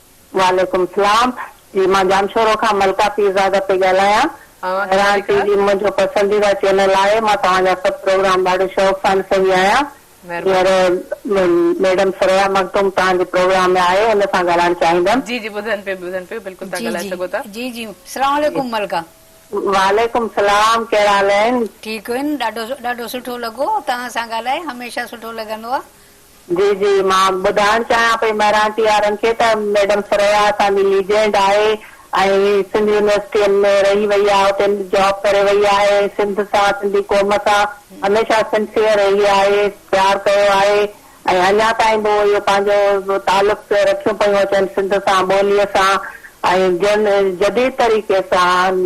وعليڪم السلام جي مان ڄامشورو کان ملڪه پيرزاده پئي ڳالهايان مهراڻ ٽي وي منهنجو پسنديده چينل آهي مان توهان جا سڀ پروگرام ڏاڍي شوق سان ڏسندي آهيان هينئر ميڊم ثريا مخدوم توهان جي پروگرام ۾ آهي ان سان ڳالهائڻ چاهيندم. جي جي ٻڌن پيو ٻڌن
پيو بلڪل تهان ڳالهائي سگهو ٿا. جي جي سلام
عليڪم ملڪه. وعليڪم
السلام ڪهڙا حال اهن. ٺيڪ اهن ڏاڍو
ڏاڍو سٺو لڳو توهان سان ڳالهائي هميشه سٺو لڳندو آ جي جي
مان ٻڌائڻ چاهيان پئي مهراڻ ٽي آرن کي ته ميڊم ثريا اسان جي ليجينڊ آهي ۽ سنڌ يونيورسٽين ۾ رهي وئي آهي اتي جاب ڪري وئي آهي سنڌ سان سنڌي قوم سان هميشه سنسيئر رهي آهي پيار ڪيو آهي ۽ اڃا تائين به اهو پنهنجو تعلق رکيون پيون اچن سنڌ سان ٻولي سان ۽ جن جديد طريقي سان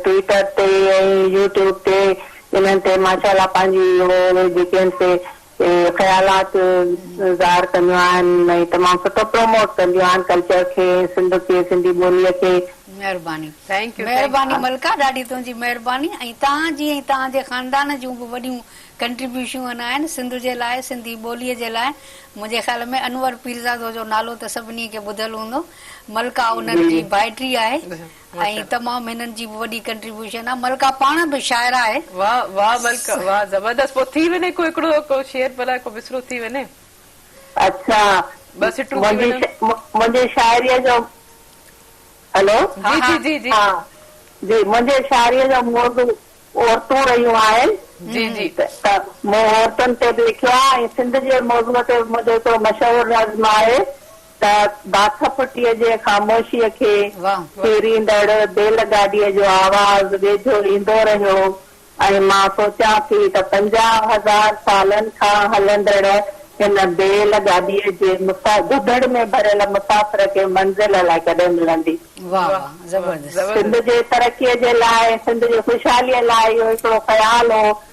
ٽوئيٽر تي ۽ يوٽيوب تي انهن تي ماشاء الله پنهنجي اهي جيڪي آهن سي تي خيالات ظاهر ڪنديون آهن ۽ تمام سٺو پروموٽ ڪنديون آهن ڪلچر کي ۽ سنڌ کي سنڌي ٻولي کي. مهرباني
مهرباني ملڪه ڏاڍي تنهنجي مهرباني ۽ توهان جي ۽ توهان جي خاندان جون به وڏيون ڪنٽريبيوشون آهن سنڌ جي لاء سنڌي ٻولي جي لاء منهنجي خيال ۾ انور پيرزادو جو نالو ته سڀني کي ٻڌل هوندو ملڪه انهن جي ڀائٽي آهي ۽ تمام هنن جي به وڏي ڪنٽريبيوشن آ ملڪه پاڻ به شاعره آهي. واھ واھ ملڪه
واھ زبردست پوء ٿي وڃي ڪو هڪڙو ڪو شعر بلاء ڪو مصرعو ٿي وڃي اڇا
ٻه سٽون
ٿي وڃن
منهنجي شاعري جو هلو جي جي جي
جي ها
جي منهنجي
شاعري
جو موضوع عورتون رهيون
آهن جي جي ته مون
عورتن تي به لکيو آهي ۽ سنڌ جي موضوع تي به منهنجو هڪڙو مشهور نظم آهي. ته باک ڦٽيء جي خاموشيء کي ڦيريندڙ بيل گاڏيء جو آواز ويجهو ايندو رهيو ۽ مان سوچيان ٿي ته پنجاهه هزار سالن کان هلندڙ هن بيل گاڏيء جي گدڙ ۾ ڀريل مسافر کي منزل الائي ڪڏهن ملندي. سنڌ جي ترقيء جي لاء، سنڌ جي خوشحاليء لاء اهو هڪڙو خيال هو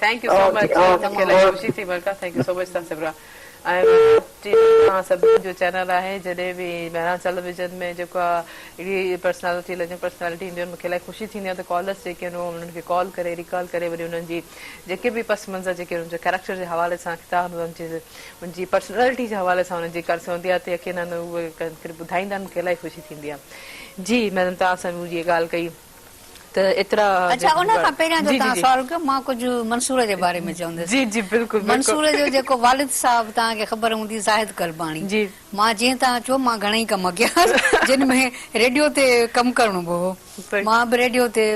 thank you so much okay مونکي اوڪي الاهي اوڪي خوشي ٿي ملڪا ٿينڪ يو سو مچ تان سبرا ۽ ٽي وي توهان سڀني جو چينل آهي جڏهن به مهراڻ ٽيليويزن ۾ جيڪو آ اهڙي پرسنالٽي لڳن پرسنالٽي اينديون مونکي الاهي خوشي ٿيندي آ ته ڪالرس جيڪي آهن اهو انهن کي ڪال ڪري ريڪال ڪري وري انهن جي جيڪي به پس منظر جيڪي انهن جي ڪيريڪٽر جي حوالي سان ڪتا انهن جي انهن جي پرسنالٽي جي حوالي سان انهن جي ڪرس هوندي آ ته يقينن اهي ڪن ڪري ٻڌائيندا آهن مونکي الاهي خوشي ٿيندي آ جي ميڊم توهان سان به اهي ڳالهه ڪئي ته ايترا جي اڇا ان کان پهريان
جو جي جي توهان جي سوال ڪيو مان ڪجهه منصور جي باري ۾ چوندس جي جي بلڪل بلڪل منصور
جو جيڪو
والد صاحب توهان کي خبر هوندي زاهد قرباني جي مان جيئن توهان چيو مان گهڻائي ڪم ڪيا هئس جن ۾ ريڊيو تي ڪم ڪرڻو به هو مان به ريڊيو تي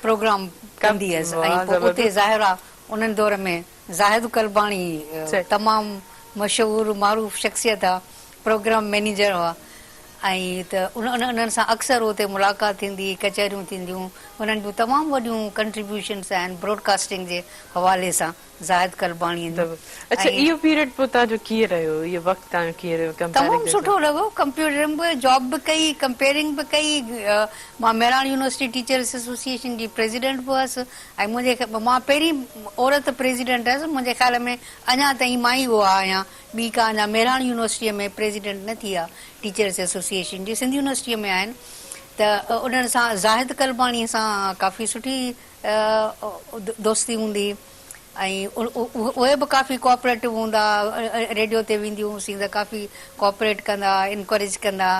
پروگرام ڪم ڪندي هيس ۽ واهه پوء اتي زبردست ظاهر آ انهن دور ۾ زاهد قرباني صحيح تمام مشهور معروف شخصيت آ پروگرام مئنيجر هئا ۽ ته انهن سان اڪثر اتي ملاقات ٿيندي هئي، ڪچهريون ٿينديون، انهن جون تمام وڏيون ڪنٽريبيوشنس آهن براڊڪاسٽنگ جي حوالي سان زاهد قلباڻيء جون اڇا ۽ اهو
پيريڊ پوء تنهن جو ڪيئن رهيو اهو وقت تنهن جو ڪيئن رهيو ڪمپيرنگ تمام جي حساب سٺو لڳو
ڪمپيوٽرنگ به جاب به ڪئي ڪمپيرنگ به ڪئي مان مهراڻ يونيورسٽي ٽيچرس ايسوسيئيشن جي پريزيڊنٽ به هئس ۽ منهنجي مان پهرين عورت پريزيڊنٽ هئس منهنجي خيال ۾ اڃا تائين مان ئي اها آهيان ٻي ڪا اڃا مهراڻ يونيورسٽيء ۾ پريزيڊنٽ نه ٿي آ ٽيچرس ايسوسيئيشن جي، سنڌ يونيورسٽيء ۾ آهن ته انهن سان زاهد قلباڻيء سان ڪافي سٺي دوستي هوندي ۽ اهي به ڪافي ڪوآپريٽو هوندا، ريڊيو تي وينديون هوسين ته ڪافي ڪوآپريٽ ڪندا، انڪوريج ڪندا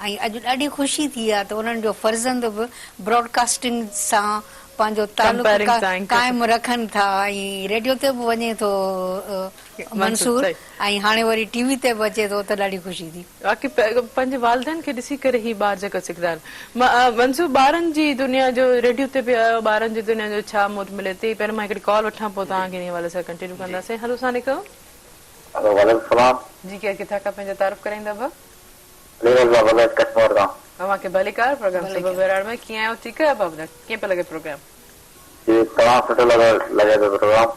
۽ اڄ ڏاڍي خوشي ٿي آ ته انهن جو فرزند به براڊڪاسٽنگ سان پنهنجو تعلق قائم رکن ٿا ۽ ريڊيو تي به وڃي ٿو. منصور، منصور، صحيح. ۽ هاڻي وري ٽي وي تي به اچي ٿو ته ڏاڍي خوشي ٿي. واقعي پنهنجي
والدين کي ڏسي ڪري هي ٻار جيڪا سکندا آهن. منصور، ٻارن جي دنيا جو ريڊيو تي به آيو، ٻارن جي دنيا جو ڇا موٽ ملي ٿي، پهريون مان هڪڙي ڪال وٺان پوء توهان کي انهي حوالي سان ڪنٽينيو ڪنداسين. هلو السلام عليڪم. هلو وعليڪم السلام. جي ڪير ڪٿان کان پنهنجو تعارف ڪرائيندا ابا. علي رضا بلوچ ڪشمور کان. اوهان کي ڀليڪار پروگرام صبح ڀليڪار. ٻهراڙ ۾ ڪيئن آهيو ٺيڪ آهيو ابا ٻڌايو ڪيئن پيو لڳي پروگرام. جي تمام سٺو لڳو لڳي ٿو پروگرام.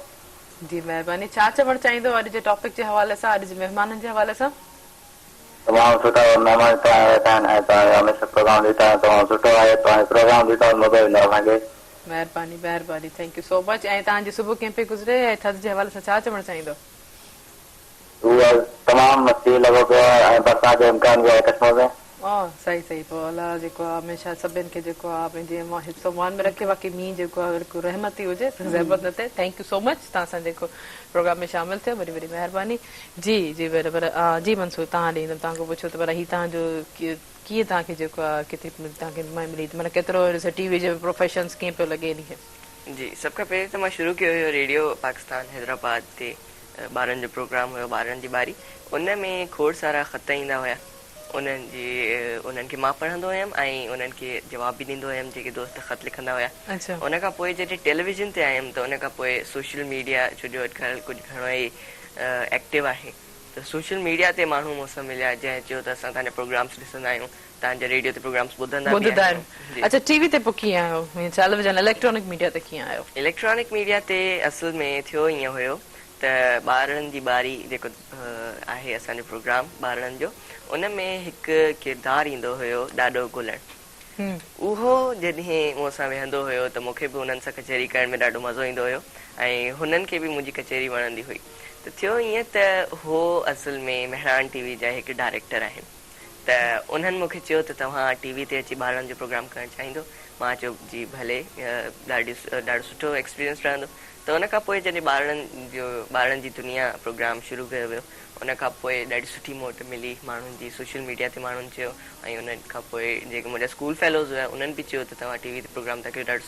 جي مهرباني ڇا چوڻ چاهيندو اڄ جي ٽاپڪ جي حوالي سان اڄ جي مهمانن جي حوالي سان. تمام
سٺا مهمان هتي آيا ويٺا آهن ۽ توهان جو هميشه پروگرام ڏيندا آهيون تمام سٺو آهي توهان جو پروگرام ڏيندا ته مزو ايندو اسان کي. مهرباني
مهرباني ٿينڪ يو سو مچ ۽ توهان جي صبح ڪيئن پئي گذري ۽ ٿڌ جي حوالي سان ڇا چوڻ چاهيندو. هو
از تمام مستي لڳو پيو آهي ۽ برسات جو امڪان به آهي ڪشمور
۾. آه سائين سائين پوء الله جيڪو آ هميشه سڀني کي جيڪو آ پنهنجي امان حفظ و امان ۾ رکي باقي مينهن جيڪو آ بلڪل رحمت ئي هجي زحمت نه ٿئي ٿينڪ يو سو مچ تهان سان جيڪو پروگرام ۾ شامل ٿيو وڏي وڏي مهرباني جي جي پر پر جي منصور تهان ڏي ايندم تهان کان پڇو ته پر هي تهان جو ڪيئن تهان کي جيڪو آ ڪيتري تهان کي مائي ملي ٿي مطلب ڪيترو ٽي وي جو پروفيشنس ڪيئن پيو لڳي ان کي. جي سڀ کان پهرين
ته مان شروع ڪيو هيو ريڊيو پاڪستان حيدرآباد تي. ٻارن جو پروگرام هيو ٻارن جي ٻاري ان ۾ کوڙ سارا خط ايندا هيا انهن جي انهن کي مان پڙهندو هيم ۽ انهن کي جواب به ڏيندو هيم جيڪي دوست خط لکندا هيا ان کان پوء جڏهن ٽيليويزن تي آيم ته ان کان پوء سوشل ميڊيا ڇو جو اڄڪلهه ڪجهه گهڻو ئي ايڪٽو آهي ته سوشل ميڊيا تي ماڻهو مون سان مليا جنهن چيو ته اسان تنهنجا پروگرامس ڏسندا آهيون توهان جا ريڊيو تي پروگرامز ٻڌندا به ٻڌدا آهن. آهيون. جي. اچا ٽي وي تي پوء ڪيئن
آهيو؟ ائين ٽيليويزن اليڪٽرانڪ ميڊيا تي ڪيئن آهيو؟ اليڪٽرانڪ ميڊيا تي
اصل ۾ ٿيو ائين هيو ته ٻارڙن جي ٻاري جيڪو آهي اسان جو پروگرام ٻارڙن جو ان ۾ هڪ ڪردار ايندو هيو ڏاڏو گلڻ اهو جڏهن مون سان ويهندو هيو ته مون کي به انهن سان ڪچهري ڪرڻ ۾ ڏاڍو مزو ايندو هيو ۽ هنن کي به منهنجي ڪچهري وڻندي هئي ته ٿيو ائين ته هو اصل ۾ مهراڻ ٽي وي جا هڪ ڊائريڪٽر آهن. ته انهن مون کي چيو ته توهان ٽي وي تي اچي ٻارڙن جو پروگرام ڪرڻ چاهيندو؟ مان چيو جي ڀلي ڏاڍو سٺو ايڪسپيرينس رهندو ته ان کان پوء جڏهن ٻارڙن جو ٻارڙن جي دنيا پروگرام شروع ڪيو ويو ان کان پوء ڏاڍي سٺي موٽ ملي ماڻهن جي سوشل ميڊيا تي ماڻهن چيو ۽ ان کان پوء جيڪي منهنجا اسڪول فيلوز هيا انهن به چيو ته توهان ٽي وي تي پروگرام ٿا ڪريو ڏاڍو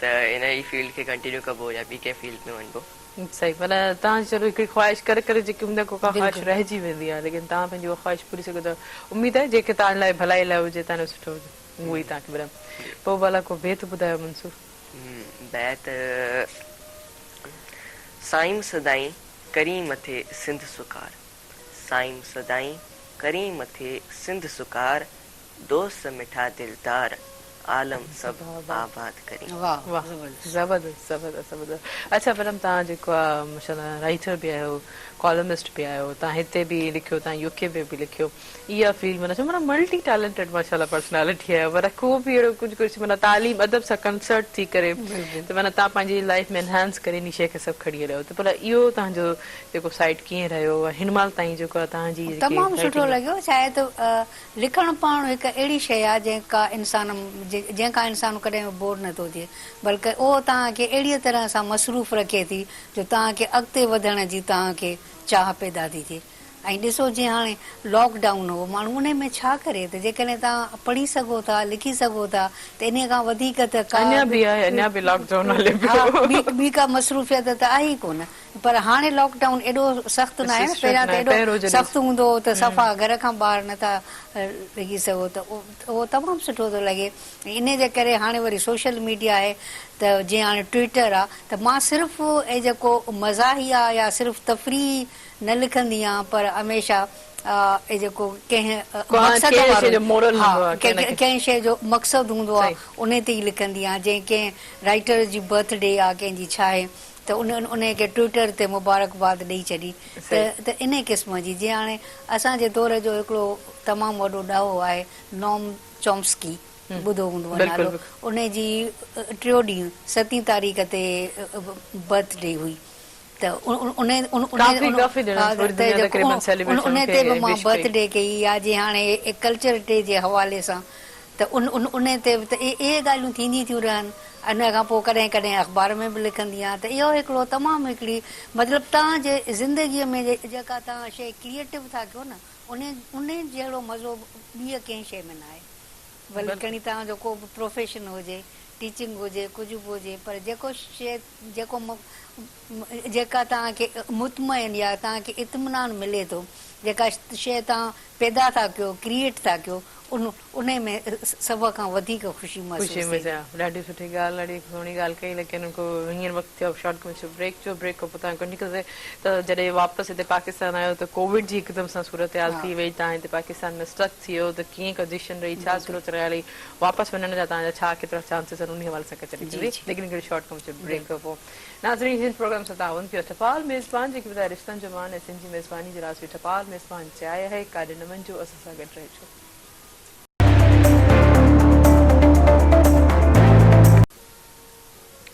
ته ان ئي فيلڊ کي ڪنٽينيو ڪبو يا ٻي ڪنهن فيلڊ ۾ وڃبو؟ صحيح معنيٰ
تان چلو هڪڙي خواهش ڪري ڪري جيڪي هوندي ڪو ڪا خواهش رهجي ويندي آهي ليڪن تان پنهنجي اها خواهش پوري سگهو ته اميد آهي جيڪي تان لاء ڀلائي لاء هجي تان لاء سٺو هجي اهو ئي تان کي برم پوء ڀلا ڪو بيت ٻڌايو منصور. بيت،
سائين سدائين ڪرين مٿي سنڌ سڪار سائين سدائين ڪرين مٿي سنڌ سڪار دوست مٺا دلدار عالم سڀ آباد ڪرين. واھ
زبردست زبردست زبردست زبردست اچھا پرم تان جيڪو آ ماشاءالله رائيٽر به آھيو ڪالمسٽ به آھيو تان ھتي به لکيو تان يو ڪي ۾ به لکيو ايا فيلڊ معنيٰ چون معنيٰ ملٽي ٽيلنٽيڊ ماشاءالله پرسنالٽي آھيو معنيٰ ڪو به اھڙو ڪجھ ڪجھ معنيٰ تعليم ادب سان ڪنسرٽ ٿي ڪري ته معنيٰ تان پنھنجي لائيف ۾ انھانس ڪري انھي شيء کي سڀ کڻي ھليو ته بھلا اھو تان جو جيڪو سائيٽ ڪيئن رھيو ھن مھل تائين جيڪو آ تان جي جيڪي تمام سٺو لڳيو
شايد لکڻ پاڻ هڪ اهڙي شيء آهي جنهن کا انسان جنهن کان انسان ڪڏهن به بور نٿو ٿئي بلڪ اهو توهان کي اهڙيء طرح سان مصروف رکي ٿي جو توهان کي اڳتي وڌڻ جي توهان کي چاهه پيدا ٿي ٿئي ۽ ڏسو جيئن هاڻي لاڪ ڊائون هو ماڻهو انهي ۾ ڇا ڪري ته جيڪڏهن توهان پڙهي سگهو ٿا لکي سگهو ٿا ته انهي کان وڌيڪ ته ڪا اڃا به آهي اڃا به لاڪ ڊائون هلي پيو ها ٻي ڪا مصروفيت ته آهي ئي ڪونه. پر هاڻي لاڪ ڊائون ايڏو سخت ناهي نه پهريان ته ايڏو سخت هوندو هو ته صفا گهر کان ٻاهر نه ٿا لڳي سگهو ته اهو تمام سٺو ٿو لڳي انهي جي ڪري هاڻي وري سوشل ميڊيا آهي ته جيئن هاڻي ٽوئيٽر آ ته مان صرف اهي جيڪو مزاحيه يا صرف تفريحي نه لکندي آهيان پر هميشه اهي جيڪو ڪنهن مقصد وارو ها ڪنهن شيء جو مقصد هوندو آ انهي تي ئي لکندي آهيان جيئن ڪنهن رائيٽر جي برٿ ڊي آ ڪنهن جي ڇاهي ته انهن انهيء کي ٽوئيٽر تي مبارڪباد ڏئي ڇڏي ته ته انهيء قسم جي جيئن هاڻي اسان جي دور جو هڪڙو تمام وڏو ڏاهو آهي نوم چومسڪي ٻڌو هوندوء نالو انهيء جي ٽيو ڏينهن ستين تاريخ تي برٿ ڊي هئي ته انهيء تي به مان برٿ ڊي ڪئي يا جي هاڻي ڪلچر ڊي جي حوالي سان ته ان ان ان تي به ته اهي ڳالهيون ٿينديون ٿيون رهن. ان کان پوء ڪڏهن ڪڏهن اخبار ۾ به لکندي آهيان ته اهو هڪڙو تمام هڪڙي مطلب توهان جي زندگيء ۾ جيڪا توهان شيء ڪريئيٽو ٿا ڪيو نه ان ان جهڙو مزو ٻيء ڪنهن شيء ۾ ناهي. ڀلي کڻي توهان جو ڪو به پروفيشن هجي، ٽيچنگ هجي، ڪجهه به هجي پر جيڪو شيء جيڪو م جيڪا توهان کي مطمئن يا توهان کي اطمينان ملي ٿو، جيڪا شيء توهان پيدا ٿا ڪيو، Create ٿا ڪيو، ان انهي ۾ سڀ کان وڌيڪ خوشي محسوس ٿئي ٿي. ڏاڍي سٺي ڳالهه ڏاڍي
سهڻي ڳالهه ڪئي ليڪن ان کان پوء هينئر وقت ٿيو آهي شارٽ ڪم ٿيو بريڪ جو بريڪ کان پوء تان ڪنٽينيو ڪنداسين ته جڏهن واپس هتي پاڪستان آيو ته ڪووڊ جي هڪدم سان صورتحال ٿي وئي تان هتي پاڪستان ۾ اسٽڪ ٿي ويو ته ڪيئن ڪنڊيشن رهي ڇا صورتحال رهي واپس وڃڻ جا توهان جا ڇا ڪيترا چانسز آهن انهي حوالي سان ڪچهري جي ڪندي جي ليڪن هڪڙي شارٽ ڪمرشل بريڪ کان پوء ناظرين هن پروگرام سان تعاون ڪيو اٿ ٽپال ميزبان جيڪي ٻڌايو رشتن جو مان ۽ سنڌ جي ميزباني جي راض هئي ٽپال ميزبان چيائي آهي ڪاڏي نه وڃجو اسان سان گڏ رهجو.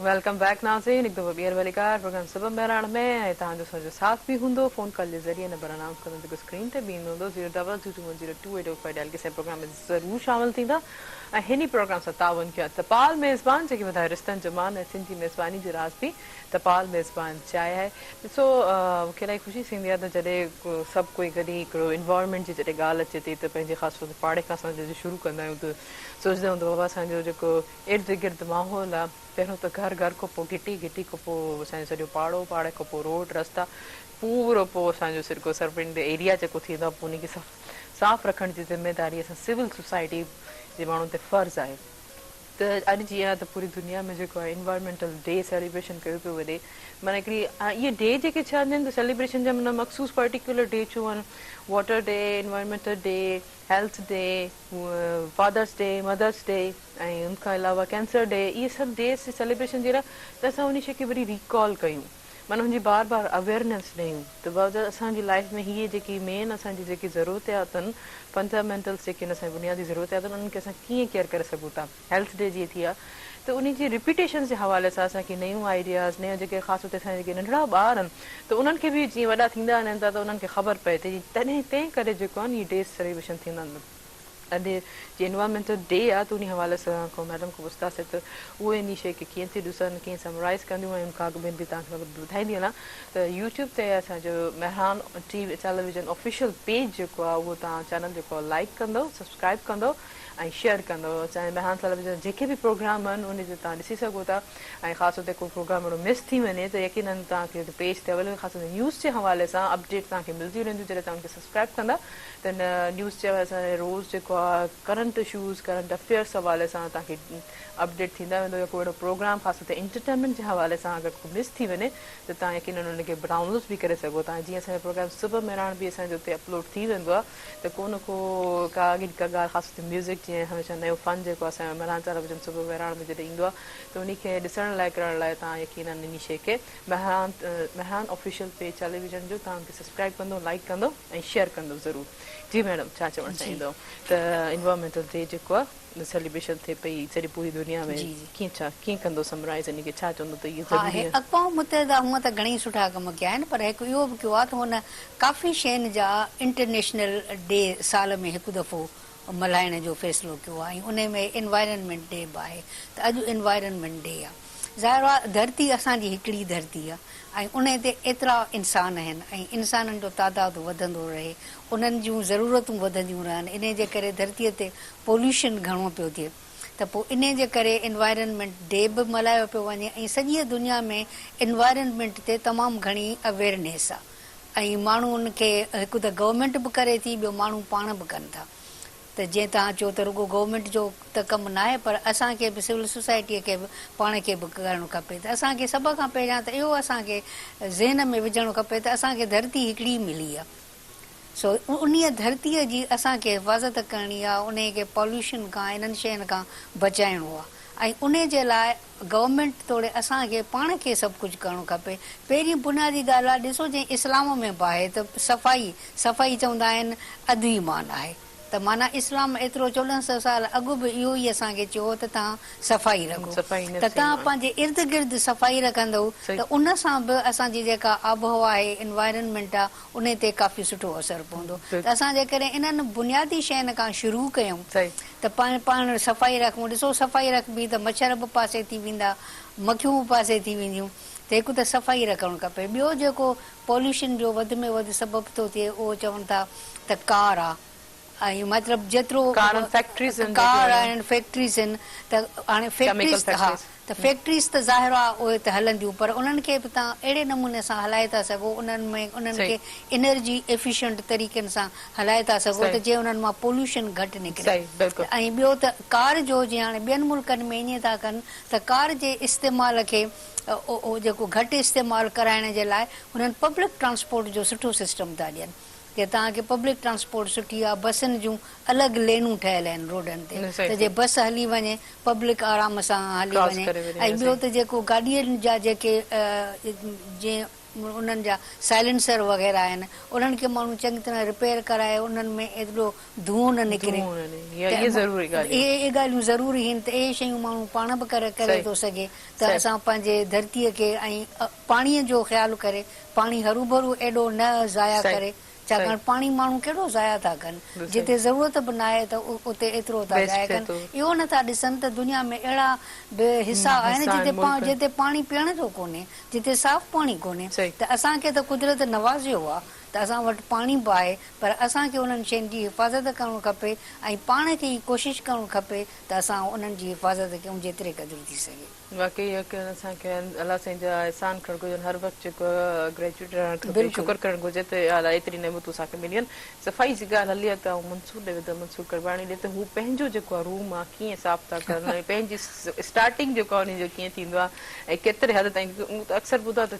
ويلڪم بيڪ ناظرين هڪ دفعو ٻيهر ڀليڪار پروگرام صبح مهراڻ ۾ ۽ توهان جو سهجو ساٿ به هوندو فون ڪال جي ذريعي نمبر انائونس ڪندم جيڪو اسڪرين تي به ايندو هوندو zero double two two one zero two eight double five dial ڪي سائين پروگرام ۾ ضرور شامل ٿيندا ۽ هن ئي پروگرام سان تعاون ڪيو آهي تپال ميزبان جيڪي ٻڌايو رشتن جو مان ۽ سنڌ جي ميزباني جو راز به تپال ميزبان چاهي آهي ڏسو مونکي الاهي خوشي ٿيندي آهي ته جڏهن سڀ ڪوئي گڏي هڪڙو انوائرمينٽ جي جڏهن ڳالهه اچي ٿي ته پنهنجي خاص طور تي پاڙي کان اسان جڏهن شروع ڪندا آهيون ته سوچدا آهيون ته بابا اسان جو جيڪو ارد گرد ماحول آ پهريون ته گهر گهر کان پو گهٽي گهٽي کان پو اسان جو سڄو پاڙو پاڙي کان پو روڊ رستا پورو پو اسان جو سرگو سربنڊ ايريا جيڪو ٿيندو آ پو انهي کي سف صاف رکڻ جي ذميداري اسان سول سوسائٽي جي ماڻهن تي فرض آهي ته اڄ جيئن آ ته پوري دنيا ۾ جيڪو آ انوائرمينٽل ڊي سيليبريشن ڪيو پيو وڃي معنيٰ هڪڙي اهي ڊي جيڪي ڇا هوندا آهن ته سيليبريشن جا معنيٰ مخصوص پرٽيڪيولر ڊي ڇو آهن water day environmental day health day fathers day mothers day ۽ ان کان علاوه ڪينسر ڊي اهي سڀ ڊيز جي سيليبريشن جهڙا ته اسان انهي شي کي وري ريڪال ڪيون معنيٰ ان جي بار بار اويئرنيس ڏيون ته باوجود اسان جي لائيف ۾ هي جيڪي مين اسان جي جيڪي ضرورتياتن فنڊامينٽلس جيڪي آهن اسان جي بنيادي ضرورتياتن انهن کي اسان ڪيئن ڪيئر ڪري سگهون ٿا هيلٿ ڊي جيئن ٿي آ ته انهي جي ريپيٽيشنس جي حوالي سان اسان کي نيون آئيڊياز نيون جيڪي خاص طور تي اسان جا جيڪي ننڍڙا ٻار آهن ته انهن کي به جيئن وڏا ٿيندا وڃن ٿا ته انهن کي خبر پئي ته تڏهن تنهن ڪري جيڪو آهن اهي ڊيز سيليبريشن ٿيندا آهن اڄ جي انوائرمينٽل ڊي آ ته انهي حوالي سان کان ميڊم کان پڇتاسي ته اهي انهي شئي کي ڪيئن ٿي ڏسن ڪيئن سمرائيز ڪنديون ۽ ان کان اڳ ۾ به توهان کي مطلب ٻڌائيندي هلان ته يوٽيوب تي اسان جو Mehran T television official page جيڪو آ اهو توهان چينل جيڪو آ لائيڪ ڪندو سبسڪرائيب ڪندو ۽ شيئر ڪندو اسان جي مهراڻ ٽيليويزن جا جيڪي به پروگرام آهن انهي تي توهان ڏسي سگهو ٿا ۽ خاص طور تي ڪو پروگرام اهڙو مس ٿي وڃي ته يقينن توهان کي پيج تي اويليبل خاص طور تي نيوز جي حوالي سان اپڊيٽ توهان کي ملديون رهنديون جڏهن توهان ان کي سبسڪرائيب ڪندا تنهن نيوز چيو اسان کي روز جيڪو آ ڪرنٽ اشوز ڪرنٽ افيئرس حوالي سان تان کي اپڊيٽ ٿيندا ويندو يا ڪو اهڙو پروگرام خاص طور تي انٽرٽينمينٽ جي حوالي سان اگر ڪو مس ٿي وڃي ته تان يقينن ان کي ڊائونلوز به ڪري سگهو ٿا جيئن اسان جو پروگرام صبح مهراڻ به اسان جو اتي اپلوڊ ٿي ويندو آ ته ڪو نه ڪو ڪا اڳين ڪا ڳالهه خاص طور تي ميوزڪ جي ۽ هميشه نيو فن جيڪو آ اسان جو مهراڻ چار بجن صبح مهراڻ ۾ جڏهن ايندو آ ته انهي کي ڏسڻ لاء ڪرڻ لاء تان يقينن انهي شي کي مهراڻ مهراڻ آفيشل پيج چالي ويزن جو توهان به سبسڪرائب ڪندو لائڪ ڪندو ۽ شيئر ڪندو ضرور جي ميڊم ڇا چوڻ جي چاهيندو ته انوائرمينٽل ڊي جيڪو آ سيليبريشن ٿئي پئي سڄي پوري دنيا ۾ جي جي ڪيئن ڇا ڪيئن ڪندو سمرائيز ان کي ڇا چوندو ته اهي ها ضروري آهن اقوام متحده هونئن ته
گهڻي سٺا ڪم ڪيا آهن پر هڪ اهو به ڪيو آ ته هن ڪافي شين جا انٽرنيشنل ڊي سال ۾ هڪ دفعو ملهائڻ جو فيصلو ڪيو آهي ۽ انهي ۾ انوائرنمينٽ ڊي به آهي ته اڄ انوائرنمينٽ ڊي آهي ظاهر آهي ڌرتي اسان جي هڪڙي ڌرتي آهي ۽ انهي تي ايترا انسان آهن ۽ انسانن جو تعداد وڌندو رهي انهن جون ضرورتون وڌنديون رهن انهي جي ڪري ڌرتي تي پوليوشن گهڻو پيو ٿئي ته پوء انهي جي ڪري انوائرنمينٽ ڊي به ملهايو پيو وڃي ۽ سڄي دنيا ۾ انوائرنمينٽ تي تمام گهڻي اويرنيس آهي. ۽ ماڻهو ان کي هڪ ته گورنمينٽ به ڪري ٿي ٻيو ماڻهو پاڻ به ڪن ٿا ته جيئن توهان چئو ته رڳو گورنمينٽ جو ته ڪم ناهي پر اسان کي به سول سوسائٽيء کي به پاڻ کي به ڪرڻ کپي ته اسان کي سڀ کان پهريان ته اهو اسان کي ذهن ۾ وجهڻو کپي ته اسان کي ڌرتي هڪڙي ملي آهي سو انهيء ڌرتيء جي اسان کي حفاظت ڪرڻي آهي انهيء کي پاليوشن کان انهن شين کان بچائڻو آهي ۽ انهيء جي لاء گورنمينٽ توڙي اسان کي پاڻ کي سڀ ڪجهه ڪرڻو کپي. پهرين بنيادي ڳالهه آهي ڏسو جئين اسلام ۾ به آهي ته صفائي، صفائي چوندا آهن اڌ ايمان آهي ته معنيٰ اسلام ايترو چوڏهن سئو سال اڳ به اهو ئي اسان کي چيو هو ته توهان صفائي رکو ته توهان پنهنجي ارد گرد صفائي رکندئو ته ان سان به اسان جي جيڪا آبهوا آهي Environment آهي انهي تي ڪافي سٺو اثر پوندو ته اسان جيڪڏهن انهن بنيادي شين کان شروع ڪيون ته پاڻ صفائي رکون ڏسو صفائي رکبي ته مڇر به پاسي ٿي ويندا مکيون به پاسي ٿي وينديون ته هڪ ته صفائي رکڻ کپي ٻيو جيڪو پوليوشن جو وڌ ۾ وڌ سبب ٿو ٿئي اهو چون ٿا ته ڪار آ ۽ مطلب جيترو ڪار ۽ فيڪٽريز آهن جيڪي ڪار هلن. آهن فيڪٽريز آهن ته هاڻي ڪيميڪل فيڪٽريز ها فيڪٽريز. ته فيڪٽريز ته ظاهر آهي اهي ته هلنديون پر انهن کي به تان اهڙي نموني سان هلائي ٿا سگهو انهن ۾ انهن صحيح. کي انرجي ايفيشنٽ طريقن سان هلائي ٿا سگهو ته صحيح. جيئن انهن مان پوليوشن گهٽ نڪري صحيح بلڪل. ته ۽ ٻيو ته ڪار جو جيئن هاڻي ٻين ملڪن ۾ ائين ٿا ڪن ته ڪار جي استعمال کي جيڪو گهٽ استعمال ڪرائڻ جي لاء انهن پبلڪ ٽرانسپورٽ جو سٺو سسٽم ٿا ڏين جي توهان کي پبلڪ ٽرانسپورٽ سٺي آ بسن جون الڳ لينون ٺهيل آهن روڊن تي ته جي بس هلي وڃي پبلڪ آرام سان هلي وڃي ۽ ٻيو ته جيڪو گاڏين جا جيڪي جي انهن جا سائلنسر وغيره آهن انهن کي ماڻهو چڱي طرح رپيئر ڪرائي انهن ۾ ايڏو ڌونء نه نڪري اهي ڳالهيون ضروري هين ته اهي شيون ماڻهو پاڻ به ڪري ٿو سگهي ته اسان پنهنجي ڌرتي کي ۽ پاڻي جو خيال ڪري پاڻي هروڀرو ايڏو نه ضايع ڪري ڇاڪاڻ پاڻي ماڻهو ڪهڙو ضايع ٿا ڪن جتي ضرورت به ناهي ته اتي ايترو ٿا ضايع ڪن اهو نه ٿا ڏسن ته دنيا ۾ اهڙا به حصا آهن جتي پاڻي پيئڻ جو ڪونهي جتي صاف پاڻي ڪونهي ته اسان کي ته قدرت نوازيو آهي ته اسان وٽ پاڻي به آهي پر اسان کي انهن شين جي حفاظت ڪرڻ کپي ۽ پاڻ کي ئي ڪوشش ڪرڻ کپي ته اسان انهن جي حفاظت ڪيون جيتري قدر ٿي سگهي. واقعي يقينن
اسان کي الله سائين جا احسان ڪرڻ گهرجن هر وقت جيڪو گريجوئيٽ رهڻ کپي شڪر ڪرڻ گهرجي ته اها الله ايتري نعمتون اسان کي مليون صفائي جي ڳالهه هلي ته آئون منصور ڏي ويندم منصور ڪڙواڻي ڏي ته هو پنهنجو جيڪو آهي روم آهي ڪيئن صاف ٿا ڪرن ۽ پنهنجي اسٽارٽنگ جيڪو آهي ان جو ڪيئن ٿيندو آهي ۽ ڪيتري حد تائين مون ته اڪثر ٻڌا ته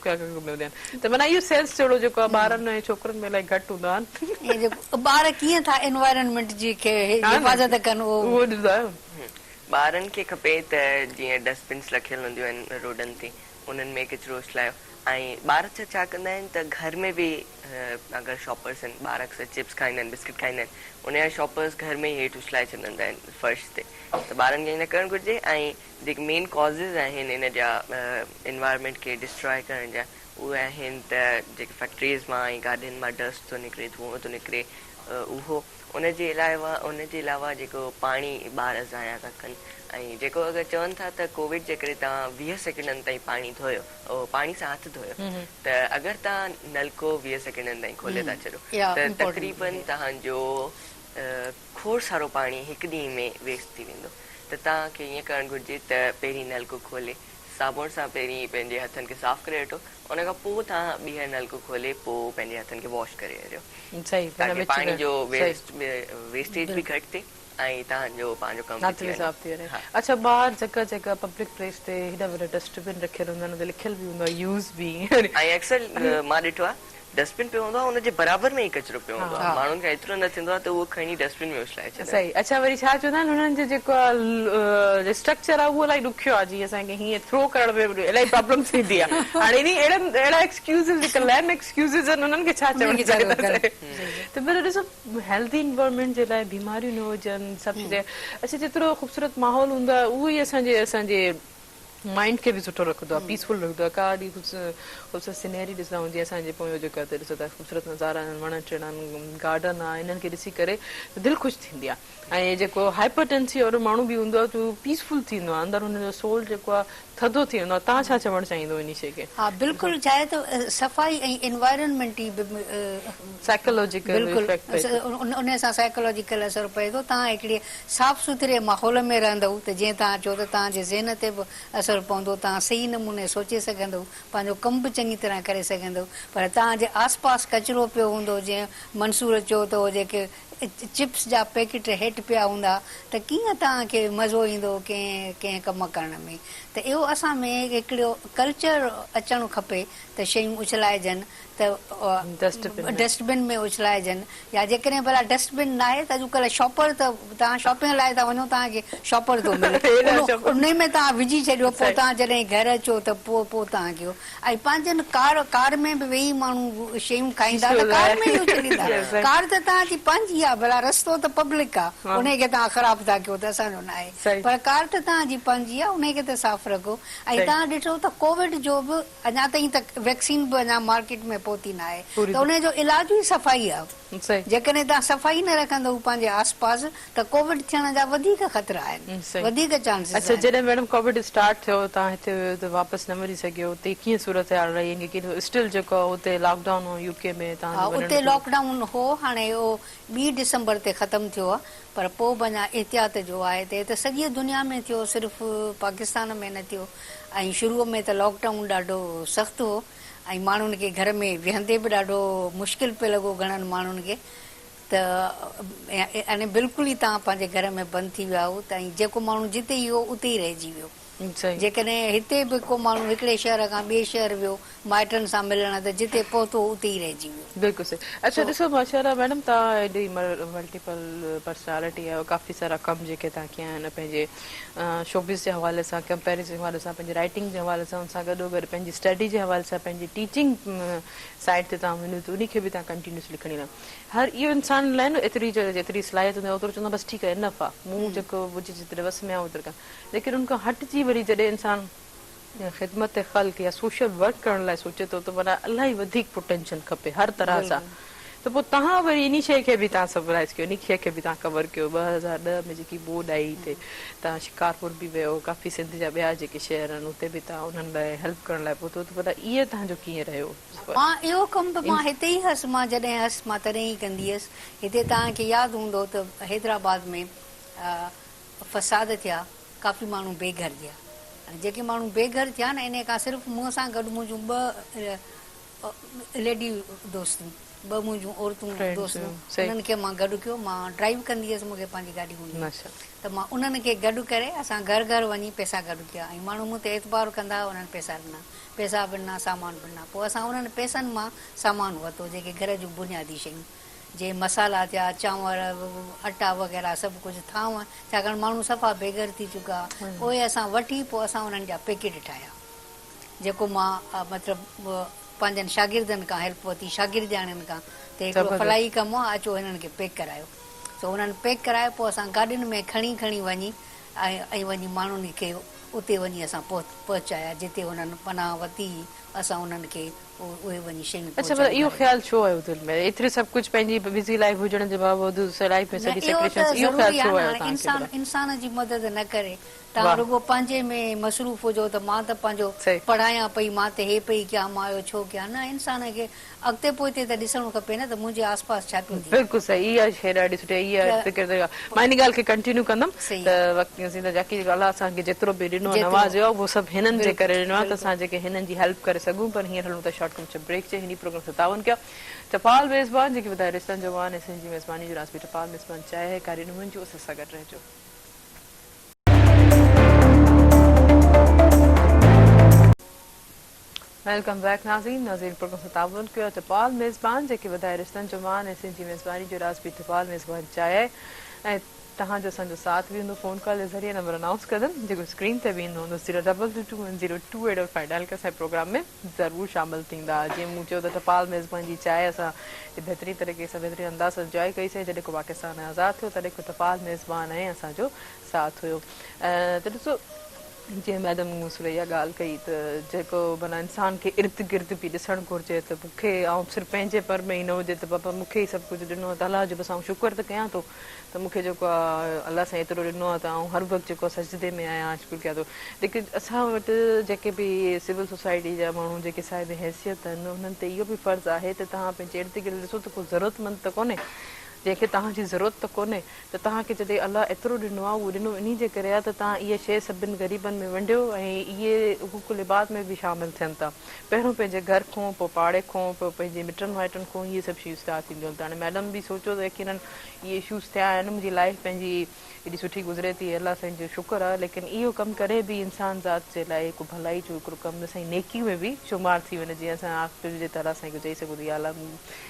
ته معنيٰ اهو سينس جهڙو جيڪو آهي ٻارن ۽ ڇوڪرن ۾ الائي گهٽ هوندو آهن. جيڪو ٻار ڪيئن ٿا
انوائرنمينٽ جي کي حفاظت ڪن اهو. اهو ڏسندا
آهيو. ٻارن کي
کپي ته جيئن ڊسٽبنس رکيل هونديون آهن روڊن تي انهن ۾ ڪچرو اڇلايو ۽ ٻار ڇا ڇا ڪندا آهن ته گهر ۾ به اگر شاپرس آهن ٻار اڪثر چپس کائيندا آهن بسڪٽ کائيندا آهن ان جا شاپرس گهر ۾ ئي هيٺ اڇلائي ڇڏندا آهن فرش تي ته ٻارن کي ائين نه ڪرڻ گهرجي ۽ جيڪي مين ڪازز آهن ان جا انوائرمينٽ کي ڊسٽراء ڪرڻ جا اهي آهن ته جيڪي فيڪٽريز مان ۽ گاڏين مان ڊسٽ ٿو نڪري ڌونئون ٿو نڪري اهو ان جي علاوه ان جي علاوه جيڪو پاڻي ٻار ضايع ٿا ڪن ۽ جيڪو اگر چون ٿا ته ڪووڊ جي ڪري توهان ويهه سيڪنڊن تائين پاڻي ڌويو پاڻي سان هٿ ڌويو ته اگر توهان نلڪو ويهه سيڪنڊن تائين کولي ٿا ڇڏو ته تقريبن توهان جو کوڙ سارو پاڻي هڪ ڏينهن ۾ ويسٽ ٿي ويندو ته توهان کي ائين ڪرڻ گهرجي ته پهرين نلڪو کولي صابڻ سان پهرين پنهنجي هٿن کي صاف ڪري وٺو ان کان پوء توهان ٻيهر نلڪو کولي پوء پنهنجي هٿن کي واش ڪري وريو تاڪي پاڻي جو ويسٽيج به گهٽ ٿئي ۽ توهان جو پنهنجو ڪم به ٿي وڃي.
اڇا ٻاهر جڳهه جڳهه پبلڪ پليس تي هيڏا وڏا ڊسٽ بن رکيل هوندا آهن ان تي لکيل به هوندو آهي يوز بي ۽ اڪثر
مان ڏٺو آهي. ڊسٽبن پيو هوندو آهي ان جي برابر ۾ ئي ڪچرو پيو هوندو آهي ماڻهن کان ايترو نه ٿيندو آهي ته اهو کڻي ڊسٽبن ۾ اڇلائي ڇڏن. صحيح اڇا وري ڇا چوندا
آهن انهن جو جيڪو اسٽرڪچر آهي اهو الائي ڏکيو آهي جي اسان کي هيئن ٿرو ڪرڻ ۾ به الائي پرابلم ٿيندي آهي هاڻي انهي اهڙن اهڙا ايڪسڪيوزز جيڪا ليم ايڪسڪيوزز آهن انهن کي ڇا چوڻ چاهيندا سائين ته پر ڏسو هيلٿي انوائرمينٽ جي لاء بيماريون نه هجن سڀ ڇڏي اڇا جيترو خوبصورت ماحول هوندو آهي اهو ئي اسان جي اسان جي مائنڊ کي به سٺو رکندو آ پيس فل رکندو آ ڪا اهڙي خوبصورت سينري ڏسندا هجي اسان جي پويون جيڪا هتي ڏسو ٿا خوبصورت نظارا آهن وڻن ٽڻن گارڊن آ انهن کي ڏسي ڪري دل خوش ٿيندي آ ۽ جيڪو هائپر ٽينسي وارو ماڻهو به هوندو آ ته هو پيس فل ٿيندو آ اندر هن جو سول جيڪو آ ٿڌو ٿي ويندو آ تان ڇا چوڻ چاهيندو انهي شي کي ها بلڪل ڇا آهي ته
صفائي ۽ انوائرنمينٽ جي به سائيڪولوجيڪل
بلڪل افيڪٽ پئي ٿو
انهي سان سائيڪولوجيڪل اثر پئي ٿو تان هڪڙي صاف سٿري ماحول ۾ رهندؤ ته جيئن توهان چئو ته توهان جي ذهن تي به اثر پوندو، توهان صحيح نموني سوچي سگهندؤ، پنهنجو ڪم به چڱي طرح ڪري سگهندؤ، پر توهان جي آس پاس ڪچرو پيو هوندو، جيئن منصور چيو ته اهي جيڪي چپس جا پيڪٽ هيٺ پيا هوندا ته ڪيئن توهان کي مزو ايندو ڪنهن ڪنهن ڪم ڪرڻ ۾ ته اهو اسان ۾ هڪڙو ڪلچر اچڻ کپي ته شيون اڇلائجن ته ڊسٽ بن ۾ اڇلائجن يا جيڪڏهن ڀلا ڊسٽ بن ناهي ته اڄڪلهه شاپر ته توهان شاپنگ لاء ٿا وڃو توهان کي شاپر ٿو ملي انهي ۾ توهان وجهي ڇڏيو پوء توهان جڏهن گهر اچو ته پوء پوء توهان کي اهو ۽ پنهنجن ڪار ڪار ۾ به ويهي ماڻهو شيون کائيندا ته ڪار ۾ ئي اڇليندا ڪار ته توهان جي پنهنجي آهي ڀلا رستو ته پبلڪ آهي انهي کي توهان خراب ٿا ڪيو ته اسان جو ناهي پر ڪار ته توهان جي پنهنجي آهي انهي کي ته صاف رکو ۽ توهان ڏٺو ته ڪووڊ جو به اڃا تائين ته ويڪسين به اڃا مارڪيٽ ۾ پهتي نه آهي ته ان جو علاج ئي صفائي آهي جيڪڏهن توهان صفائي نه رکندؤ پنهنجي آس پاس ته ڪووڊ ٿيڻ جا وڌيڪ خطرا آهن وڌيڪ چانسز آهن. اڇا جڏهن ميڊم ڪووڊ
اسٽارٽ ٿيو توهان هتي هيو ته واپس نه وري سگهيو اتي ڪيئن صورتحال رهي ۽ ڪيئن ٿيو اسٽل جيڪو اتي لاڪ ڊائون هو يو ڪي ۾ توهان جو وڃڻ ٿيو. اتي لاڪ ڊائون
هو هاڻي اهو ٻي ڊسمبر تي ختم ٿيو آهي پر پوء به اڃا احتياط جو آء تي ته سڄيء دنيا ۾ ٿيو صرف پاڪستان ۾ نه ٿيو ۽ شروع ۾ ته لاڪ ڊائون ڏاڍو سخت هو ۽ ماڻهن کي گهر ۾ ويهندي به ڏاڍو مشڪل پئي لڳو گهڻن ماڻهن کي ته يعني بلڪل ئي تان پنهنجي گهر ۾ بند ٿي ويا هئو ته ۽ جيڪو ماڻهو جتي ئي هو اتي ئي رهجي ويو. جيڪڏهن هتي به ڪو ماڻهو هڪڙي شهر کان ٻئي شهر ويو مائٽن سان ملڻ ته جتي پهتو هو اتي ئي رهجي ويو. بلڪل صحيح اچا ڏسو
ماشاءالله ميڊم توهان ايڏي ملٽيپل پرسنالٽي آهيو ڪافي سارا ڪم جيڪي توهان ڪيا آهن پنهنجي شوبز جي حوالي سان ڪمپيرزن جي حوالي سان پنهنجي رائٽنگ جي حوالي سان ان سان گڏو گڏ پنهنجي اسٽڊي جي حوالي سان پنهنجي ٽيچنگ سائيٽ تي توهان وڃو ته انهي کي به توهان ڪنٽينيوس لکڻي رهو هر اهو انسان لاء نه ايتري جيتري صلاحيت هوندي آهي اوترو چوندو آهي بس ٺيڪ آهي انف آهي مون جيڪو هجي جيتري وس ۾ آهي اوترو ڪيم ليڪن ان کان هٽجي وري جڏهن انسان خدمت خلق يا سوشل ورڪ ڪرڻ لاء سوچي ٿو ته معنيٰ الاهي وڌيڪ پوٽينشل کپي هر طرح سان ته پوء تهان وري انهي شيء کي به تهان سپرائيز ڪيو انهي شيء کي به تهان ڪور ڪيو ٻه هزار ڏهه ۾ جيڪي ٻوڏ آئي تي تهان شڪارپور به ويو ڪافي سنڌ جا ٻيا جيڪي شهر آهن اتي به تهان انهن لاء هيلپ ڪرڻ لاء پهتو ته معنيٰ اهي تهان جو ڪيئن رهيو سفر. ها اهو ڪم
به مان هتي ئي هئس مان جڏهن هئس مان تڏهن ئي ڪندي هئس هتي تهان کي ياد هوندو ته حيدرآباد ۾ فساد ٿيا ڪافي ماڻهو بي گهر ٿيا ۽ جيڪي ماڻهو بي گهر ٿيا نه انهي کان صرف مون سان گڏ منهنجون ٻه ليڊي دوستون ٻه منهنجون عورتون دوستون انهن کي مان گڏ ڪيو مان ڊرائيو ڪندي هيس مون کي پنهنجي گاڏي هوندي هئي ته مان انهن کي گڏ ڪري اسان گهر گهر وڃي پيسا گڏ ڪيا ۽ ماڻهو مون تي اعتبار ڪندا هئا انهن پيسا ڏنا پيسا به ڏنا سامان به ڏنا پوء اسان انهن پيسن مان سامان ورتو جيڪي گهر جون بنيادي شيون جي مصالحا ٿيا، چانور، اٽا وغيره سڀ ڪجهه ٿانء، ڇاڪاڻ ماڻهو صفا بيگهر ٿي چڪا، اهي اسان وٺي پوء اسان انهن جا پيڪيٽ ٺاهيا، جيڪو مان مطلب پنهنجن شاگردن کان هيلپ ورتي، شاگردياڻين کان، ته هڪڙو فلاحي ڪم آ، اچو هنن کي پيڪ ڪرايو، سو انهن پيڪ ڪرائي پوء اسان گاڏين ۾ کڻي کڻي وڃي ۽ ائين وڃي ماڻهن کي اتي وڃي اسان پهچايا، جتي هنن پناهه ورتي هئي، اسان انهن کي اهي وڃي شيون اڇا ڀلا اهو خيال ڇو
آيو دل ۾ ايتري سڀ ڪجهه پنهنجي بزي لائف هجڻ جي باوجود لائف ۾ سڄي سيڪريشنس اهو خيال ڇو آيو تهان کي ڀلا. انسان جي مدد
نه ڪري تهان رڳو پنهنجي ۾ مصروف هجو ته مان ته پنهنجو پڙهايان پئي مان ته هي پئي ڪيان مان اهو ڇو ڪيان نه انسان کي اڳتي پوئتي ته ڏسڻو کپي نه ته منهنجي آس پاس ڇا پيو ٿئي. بلڪل صحيح اها شيء
ڏاڍي سٺي اها فڪر ته مان ان ڳالهه کي ڪنٽينيو ڪندم ته وقت زينت جاکي جيڪو الله اسان کي جيترو به ڏنو نوازيو اهو سڀ هنن جي ڪري ڏنو آهي ته اسان جيڪي هنن جي هيلپ ڪري سگهون پر هينئر هلون ٿا شارٽ ڪمرشل بريڪ جي هني پروگرام سان تعاون ڪيو ٽپال ميزبان جيڪي ٻڌايو رشتن جو وان ۽ سنڌ جي ميزباني جو راز به ٽپال ميزبان چاهي هي ڪاري نه منجهو اسان سان گڏ رهجو. ويلڪم بيڪ ناظرين ناظرين پروگرام سان تعاون ڪيو اٿپال ميزبان جيڪي وڌائي رشتن جو مان ۽ سنڌ جي ميزباني جو راز به اٿپال ميزبان چاهي آهي ۽ توهان جو اسان جو ساٿ به هوندو فون ڪال جي ذريعي نمبر انائونس ڪندم جيڪو اسڪرين تي به ايندو هوندو zero double two two one zero two eight double five dial ڪري اسان جي پروگرام ۾ ضرور شامل ٿيندا جيئن مون چيو ته اٿپال ميزبان جي چاهي اسان بهترين طريقي سان بهترين انداز سان انجوائي ڪئي سين جڏهن کو پاڪستان آزاد ٿيو تڏهن کان اٿپال ميزبان ۽ اسان جو ساٿ هيو ته ڏسو جيئن ميڊم مون سان اها ڳالهه ڪئي ته جيڪو معنيٰ انسان کي ارد گرد به ڏسڻ گهرجي ته مون کي آئون صرف پنهنجي پر ۾ ئي نه هجي ته بابا مون کي ئي سڀ ڪجهه ڏنو اٿ الله جو بس آئون شڪر ته ڪيان ٿو ته مون کي جيڪو آ الله سائين ايترو ڏنو آ ته آئون هر وقت جيڪو آ سجدي ۾ آهيان آئون شڪر ڪيان ٿو ليڪن اسان وٽ جيڪي به سول سوسائٽي جا ماڻهو جيڪي صاحب حيثيت آهن انهن تي اهو به فرض آهي ته تهان پنهنجي ارد گرد ڏسو ته ڪو ضرورت مند ته ڪونهي جنهن کي تهان جي ضرورت ته ڪونهي ته توهان کي جڏهن الله ايترو ڏنو آهي، اهو ڏنو انهي جي ڪري آهي ته توهان اهي شيء سڀن غريبن ۾ ونڊيو ۽ اهي حقوق العباد ۾ به شامل ٿين ٿا. پهريون پنهنجي گهر کون، پوء پاڙي کون، پوء پنهنجي مٽن مائٽن کون اهي سڀ شيون اسٽارٽ ٿينديون آهن ته هاڻي مئڊم به سوچيو ته يقيناً اهي اشوز ٿيا آهن، منهنجي لائيف پنهنجي ايڏي سٺي گذري ٿي الله سائين جو شڪر آهي ليڪن اهو ڪم ڪڏهن به انسان ذات جي لاء هڪ ڀلائي جو هڪڙو ڪم نه سائين نيڪي ۾ به شمار ٿي وڃي جيئن اسان آخر جي تعاليٰ سائين کي چئي سگهون ته يا الله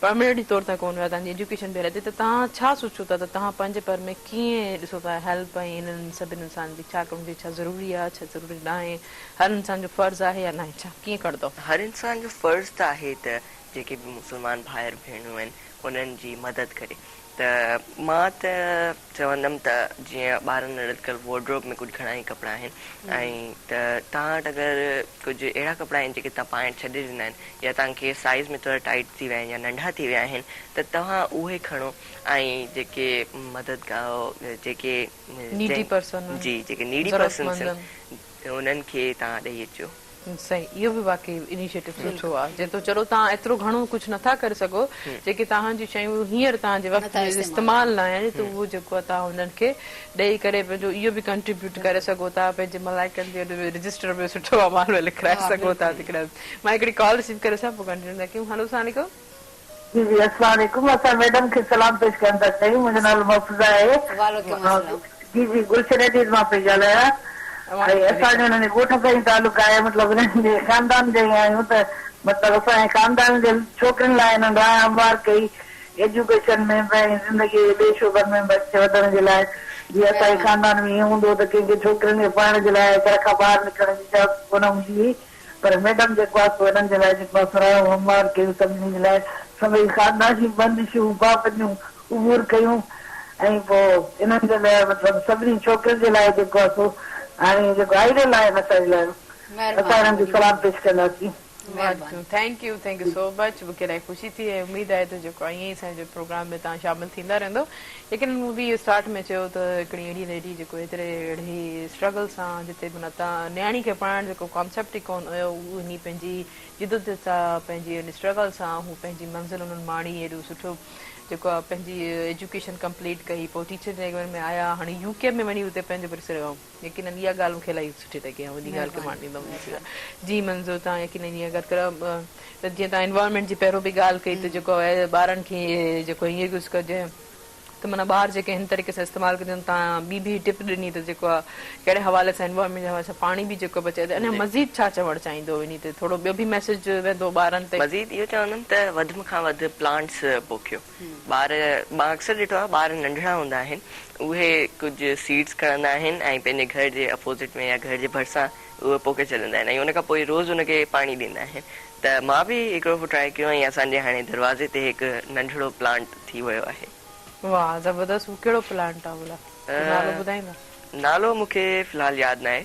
پرمنيٽلي طور تان ڪون ويا تان جي ايجوڪيشن بي رهتي ته تهان ڇا سوچو ٿا ته تهان پنهنجي پر ۾ ڪيئن ڏسو ٿا هيلپ ۽ هنن سڀن انسانن جي ڇا ڪرڻ گهرجي ڇا ضروري آهي ڇا ضروري ناهي هر انسان جو فرض آهي يا ناهي ڇا ڪيئن ڪرندؤ. هر انسان جو فرض
ته آهي ته جيڪي به مسلمان ڀائر ڀيڻون آهن انهن جي مدد ڪري ته مان ته. چوندم ته جيئن ٻارن لاء لٽڪل وارڊروب ۾ ڪجهه گهڻا ئي ڪپڙا آهن ۽ ته توهان وٽ اگر ڪجهه اهڙا ڪپڙا آهن جيڪي توهان پائڻ ڇڏي ڏنا آهن يا توهان کي سائيز ۾ ٿورا ٽائيٽ ٿي ويا آهن يا ننڍا ٿي ويا آهن ته توهان اهي کڻو ۽ جيڪي مددگار جيڪي Needy Person جي جيڪي Needy Persons ضرورتمندن. انهن کي توهان ڏئي اچو. سائين اهو به
واقعي انيشيٽو سٺو آهي جنهن تو چلو توهان ايترو گهڻو ڪجهه نٿا ڪري سگهو جيڪي توهان جون شيون هينئر توهان جي وقت جي استعمال لاء آهن تو اهو جيڪو آهي توهان انهن کي ڏئي ڪري پنهنجو اهو به ڪنٽريبيوٽ ڪري سگهو ٿا پنهنجي ملائڪن جي اڏ رجسٽر ۾ سٺو امان ۾ لکرائي سگهو ٿا جيڪڏهن مان هڪڙي ڪال رسيو ڪري سان پوء ڪنٽينيو ٿا ڪيون هلو سلام عليڪم. جي جي
اسلام عليڪم اسان ميڊم کي سلام پيش ڪرڻ ٿا چاهيون منهنجو نالو محفوظه آهي وعليڪم السلام. جي جي گلشن ايڊيز مان پئي ڳالهايان ۽ اسان جو انهن جي ڳوٺ سان ئي تعلق آهي مطلب انهن جي خاندان جا ئي آهيون ته مطلب اسان جي خاندان جي ڇوڪرين لاء انهن راهه هموار ڪئي ايجوڪيشن ۾ به ۽ زندگي جي ٻئي شعبن ۾ به اڳتي وڌڻ جي لاء جي اسان جي مهرباني. خاندان ۾ ائين هوندو هو ته ڪنهن کي ڇوڪرين کي پڙهڻ جي لاء گهر کان ٻاهر نڪرڻ جي اجازت ڪونه هوندي هئي پر ميڊم جيڪو آسو هنن جي لاء جيڪو مان سراهيو هو هموار ڪيو سڀني جي لاء سڀئي خاندان جون بندشون پابنديون عبور ڪيون ۽ پوء انهن جي لاء مطلب سڀني ڇوڪرين جي لاء جيڪو آسو هاڻي جيڪو آئيڊل آهن اسانجي لاء اسان هنن کي سلام پيش ڪنداسين. مهرباني thank
you thank you so much مونکي الائي خوشي ٿي ۽ اميد آهي ته جيڪو ائين ئي اسان جي پروگرام ۾ توهان شامل ٿيندا رهندو. ليڪن مون به اسٽارٽ ۾ چيو ته هڪڙي اهڙي ليڊي جيڪو هيتري اڙهي اسٽرگل سان جتي منا ته نياڻي کي پڙهائڻ جيڪو ڪانسيپٽ ئي ڪون هيو انهي پنهنجي جدوجھد سان پنهنجي ان اسٽرگل سان هو پنهنجي منزل انهن ماڻي ايڏو سٺو جيڪو آ پنهنجي ايجوڪيشن ڪمپليٽ ڪئي پوء ٽيچر ٽريننگ ۾ آيا هاڻي يو ڪي ۾ وڃي اتي پنهنجو ورسيرو يقينن اها ڳالهه مون کي الاهي سٺي لڳي ۽ وڏي ڳالهه کي مان ڏيندم جي منظور تان يقينن اها ڳالهه ڪرا ته جيئن تان انوائرمينٽ جي پهرو به ڳالهه ڪئي ته جيڪو ٻارن کي جيڪو هي يوز ڪجي ته معنيٰ ٻار جيڪي هن طريقي سان استعمال ڪجن تان ٻي به ٽپ ڏني ته جيڪو آهي ڪهڙي حوالي سان انوائرمينٽ جي حوالي سان پاڻي به جيڪو بچائي ته اڃا مزيد ڇا چوڻ چاهيندو انهي تي ٿورو ٻيو به ميسيج ويندو ٻارن تي. مزيد اهو چوندم ته
وڌ م کان وڌ پلانٽس پوکيو. ٻار مان اڪثر ڏٺو آهي ٻار ننڍڙا هوندا آهن اهي ڪجهه سيڊس کڻندا آهن ۽ پنهنجي گهر جي اپوزٽ ۾ يا گهر جي ڀرسان اهي پوکي ڇڏيندا آهن ۽ ان کان پوء روز ان کي پاڻي ڏيندا آهن ته مان به هڪڙو دفعو ٽرائي ڪيو ۽ اسان جي هاڻي دروازي تي هڪ ننڍڙو پلانٽ ٿي ويو آهي. واهه زبردست
هو ڪهڙو پلانٽ آهي ڀلا ڪو نالو ٻڌائيندا. نالو مون کي
في الحال ياد ناهي.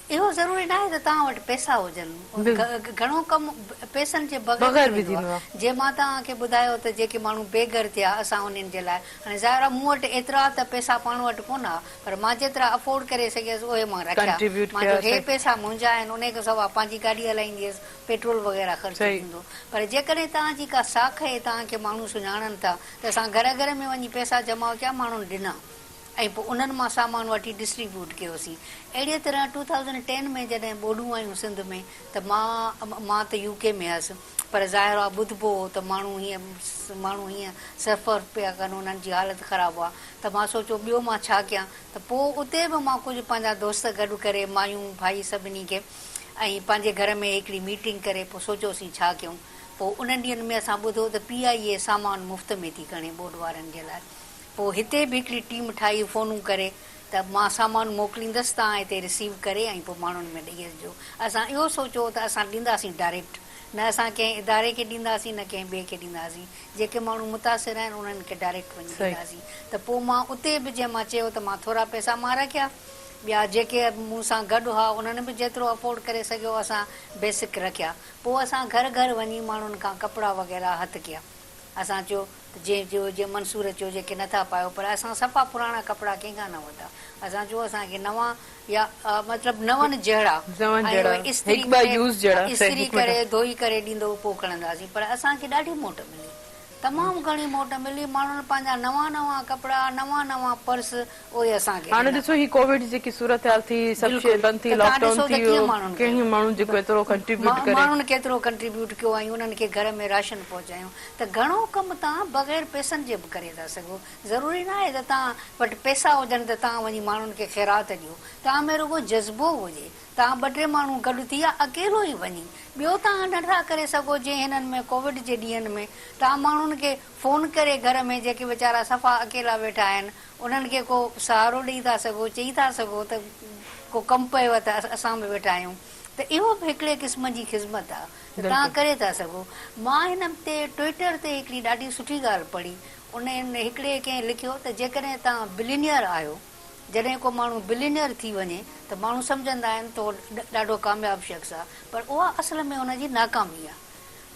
اهو ضروري ناهي ته توهان وٽ پئسا هجن. گهڻو ڪم پئسن جي بغير به ٿيندو آهي. جيئن مان توهان کي ٻڌايو ته جيڪي ماڻهو بي گهر ٿيا اسان انهن جي لاء هاڻي ظاهر آهي مون وٽ ايترا ته پئسا پاڻ وٽ ڪونه ها پر مان جيترا افورڊ ڪري سگهيس اهي مان رکيا. مان چيو هي پئسا منهنجا آهن انهي کان سواء پنهنجي گاڏي هلائيندي هيس پيٽرول وغيره خرچ ٿيندو پر جيڪڏهن توهان جي ڪا ساک هي توهان کي ماڻهو سڃاڻن ٿا ته اسان گهر گهر ۾ وڃي پئسا جمع ڪيا ماڻهن ڏنا. ۽ پوء انهن مان سامان وٺي ڊسٽري بيوٽ ڪيوسين اهڙيء طرح ٽو ٿائوزنڊ ٽين ۾ جڏهن ٻوڏون آيون سنڌ ۾ ته مان مان ته يو ڪي ۾ هيس پر ظاهر آ ٻڌبو هو ته ماڻهو هيئن ماڻهو هيئن سفر پيا ڪن انهن جي حالت خراب هئا ته مان سوچيو ٻيو مان ڇا ڪيان ته پوء اتي به مان ڪجهه پنهنجا دوست گڏ ڪري مايون ڀائي سڀني کي ۽ پنهنجي گهر ۾ هڪڙي ميٽنگ ڪري پوء سوچيوسين ڇا ڪيون پوء انهن ڏينهن ۾ اسان ٻڌو ته پي آء اي سامان مفت ۾ ٿي کڻي ٻوڏ وارن جي لاء پوء هتي به هڪڙي ٽيم ٺاهي فونون ڪري ته مان سامان موڪليندس توهان هتي رسيو ڪري ۽ پوء ماڻهن ۾ ڏئي اچجو. اسان اهو سوچيو ته اسان ڏينداسين ڊائريڪٽ نه اسان ڪنهن اداري کي ڏينداسين نه ڪنهن ٻئي کي ڏينداسين جيڪي ماڻهو متاثر آهن انهن کي ڊائريڪٽ وڃي ڏينداسين ته پوء مان اتي به جنهن مان چيو ته مان ٿورا پئسا مان رکيا ٻيا جيڪي مون سان گڏ هئا انهن به جيترو افورڊ ڪري سگهيو اسان بيسڪ رکيا پوء اسان گهر گهر وڃي ماڻهن کان ڪپڙا وغيره هٿ ڪيا. اسان چيو ته جنهن چيو جنهن منصور چيو جيڪي نٿا پايو پر اسان صفا پراڻا ڪپڙا ڪنهن کان نه ورتا اسان چيو اسان کي نوان يا مطلب نون جهڙا ۽ اهي استري ڪري استري ڪري ڌوئي ڪري ڏيندو پوء کڻنداسين پر اسان کي ڏاڍي موٽ ملي تمام گهڻي موٽ ملي ماڻهن پنهنجا نوان نوان ڪپڙا نوان نوان پرس اهي اسان کي هاڻي ڏيندا. ڏسو هي ڪووڊ
جيڪي صورتحال ٿي سڀ شيء بلڪل بند ٿي ته لاڪ تان ڊائون ڏسو ته ٿي ڪيئن ماڻهن ڪيو ڪهين ماڻهن جيڪو ايترو ڪنٽريبيوٽ ڪري. ماڻهن ڪيترو ڪنٽريبيوٽ
ڪيو ۽ انهن کي گهر ۾ راشن پهچايو ته گهڻو ڪم تان بغير پئسن جي به ڪري ٿا سگهو ضروري نه آهي ته تان وٽ پئسا هجن ته تان وڃي ماڻهن کي خيرات ڏيو تان ۾ رڳو جذبو هجي تان ٻه ٽي ماڻهو گڏ ٿي يا اڪيلو ئي وڃي ٻيو تان نه ٿا ڪري سگهو جي هنن ۾ ڪووڊ جي ڏينهن ۾ تان ماڻهن کي فون ڪري گهر ۾ جيڪي ويچارا صفا اڪيلا ويٺا آهن انهن کي ڪو سهارو ڏئي ٿا سگهو، چئي ٿا سگهو ته ڪو ڪم پيو ته اسان به ويٺا آهيون ته اهو به هڪڙي قسم جي خذمت آ ته توهان ڪري ٿا سگهو. مان هن هفتي ٽوئيٽر تي هڪڙي ڏاڍي سٺي ڳالهه پڙهي، ان ۾ هڪڙي ڪنهن لکيو ته جيڪڏهن توهان بلينئر آهيو، جڏهن ڪو ماڻهو بلينئر ٿي وڃي ته ماڻهو سمجهندا آهن ته هو ڏاڍو ڪامياب شخص آ پر اها اصل ۾ ان جي ناڪامي آ.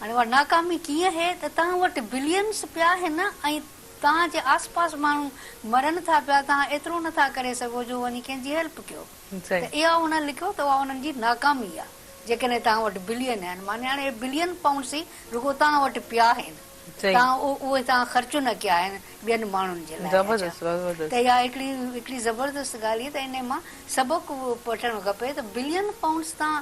هاڻي اها ناڪامي ڪيئن هي ته توهان وٽ بليئنس پيا آهن ۽ توهان جي آس پاس ماڻهو مرن ٿا پيا توهان ايترو نه ٿا ڪري سگهو جو وڃي ڪنهن جي هيلپ ڪيو ته اها انهن لکيو ته اها انهن جي ناڪامي آهي جيڪڏهن توهان وٽ بلين آهن معني هاڻي اهي بلين پائونڊس ئي رڳو توهان وٽ پيا آهن توهان اهي توهان خرچ نه ڪيا آهن ٻين ماڻهن جي لاء اچا ته اها هڪڙي هڪڙي زبردست ڳالهه هئي ته انهي مان سبق وٺڻ کپي ته بلين پائونڊس توهان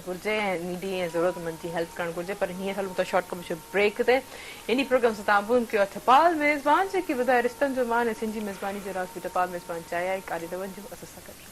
گهرجي ۽ نيڊي ۽ ضرورتمند جي هيلپ ڪرڻ گهرجي پر هينئر هلون ٿا شارٽ ڪمرشل بريڪ تي انهي پروگرام سان تعاون ڪيو آهي ٿپال ميزبان جيڪي ٻڌائي رشتن جو مان ۽ سنڌ جي ميزباني جو راز به ٽپال ميزبان چائي آهي ڪاري دون جو اسس سان گڏ.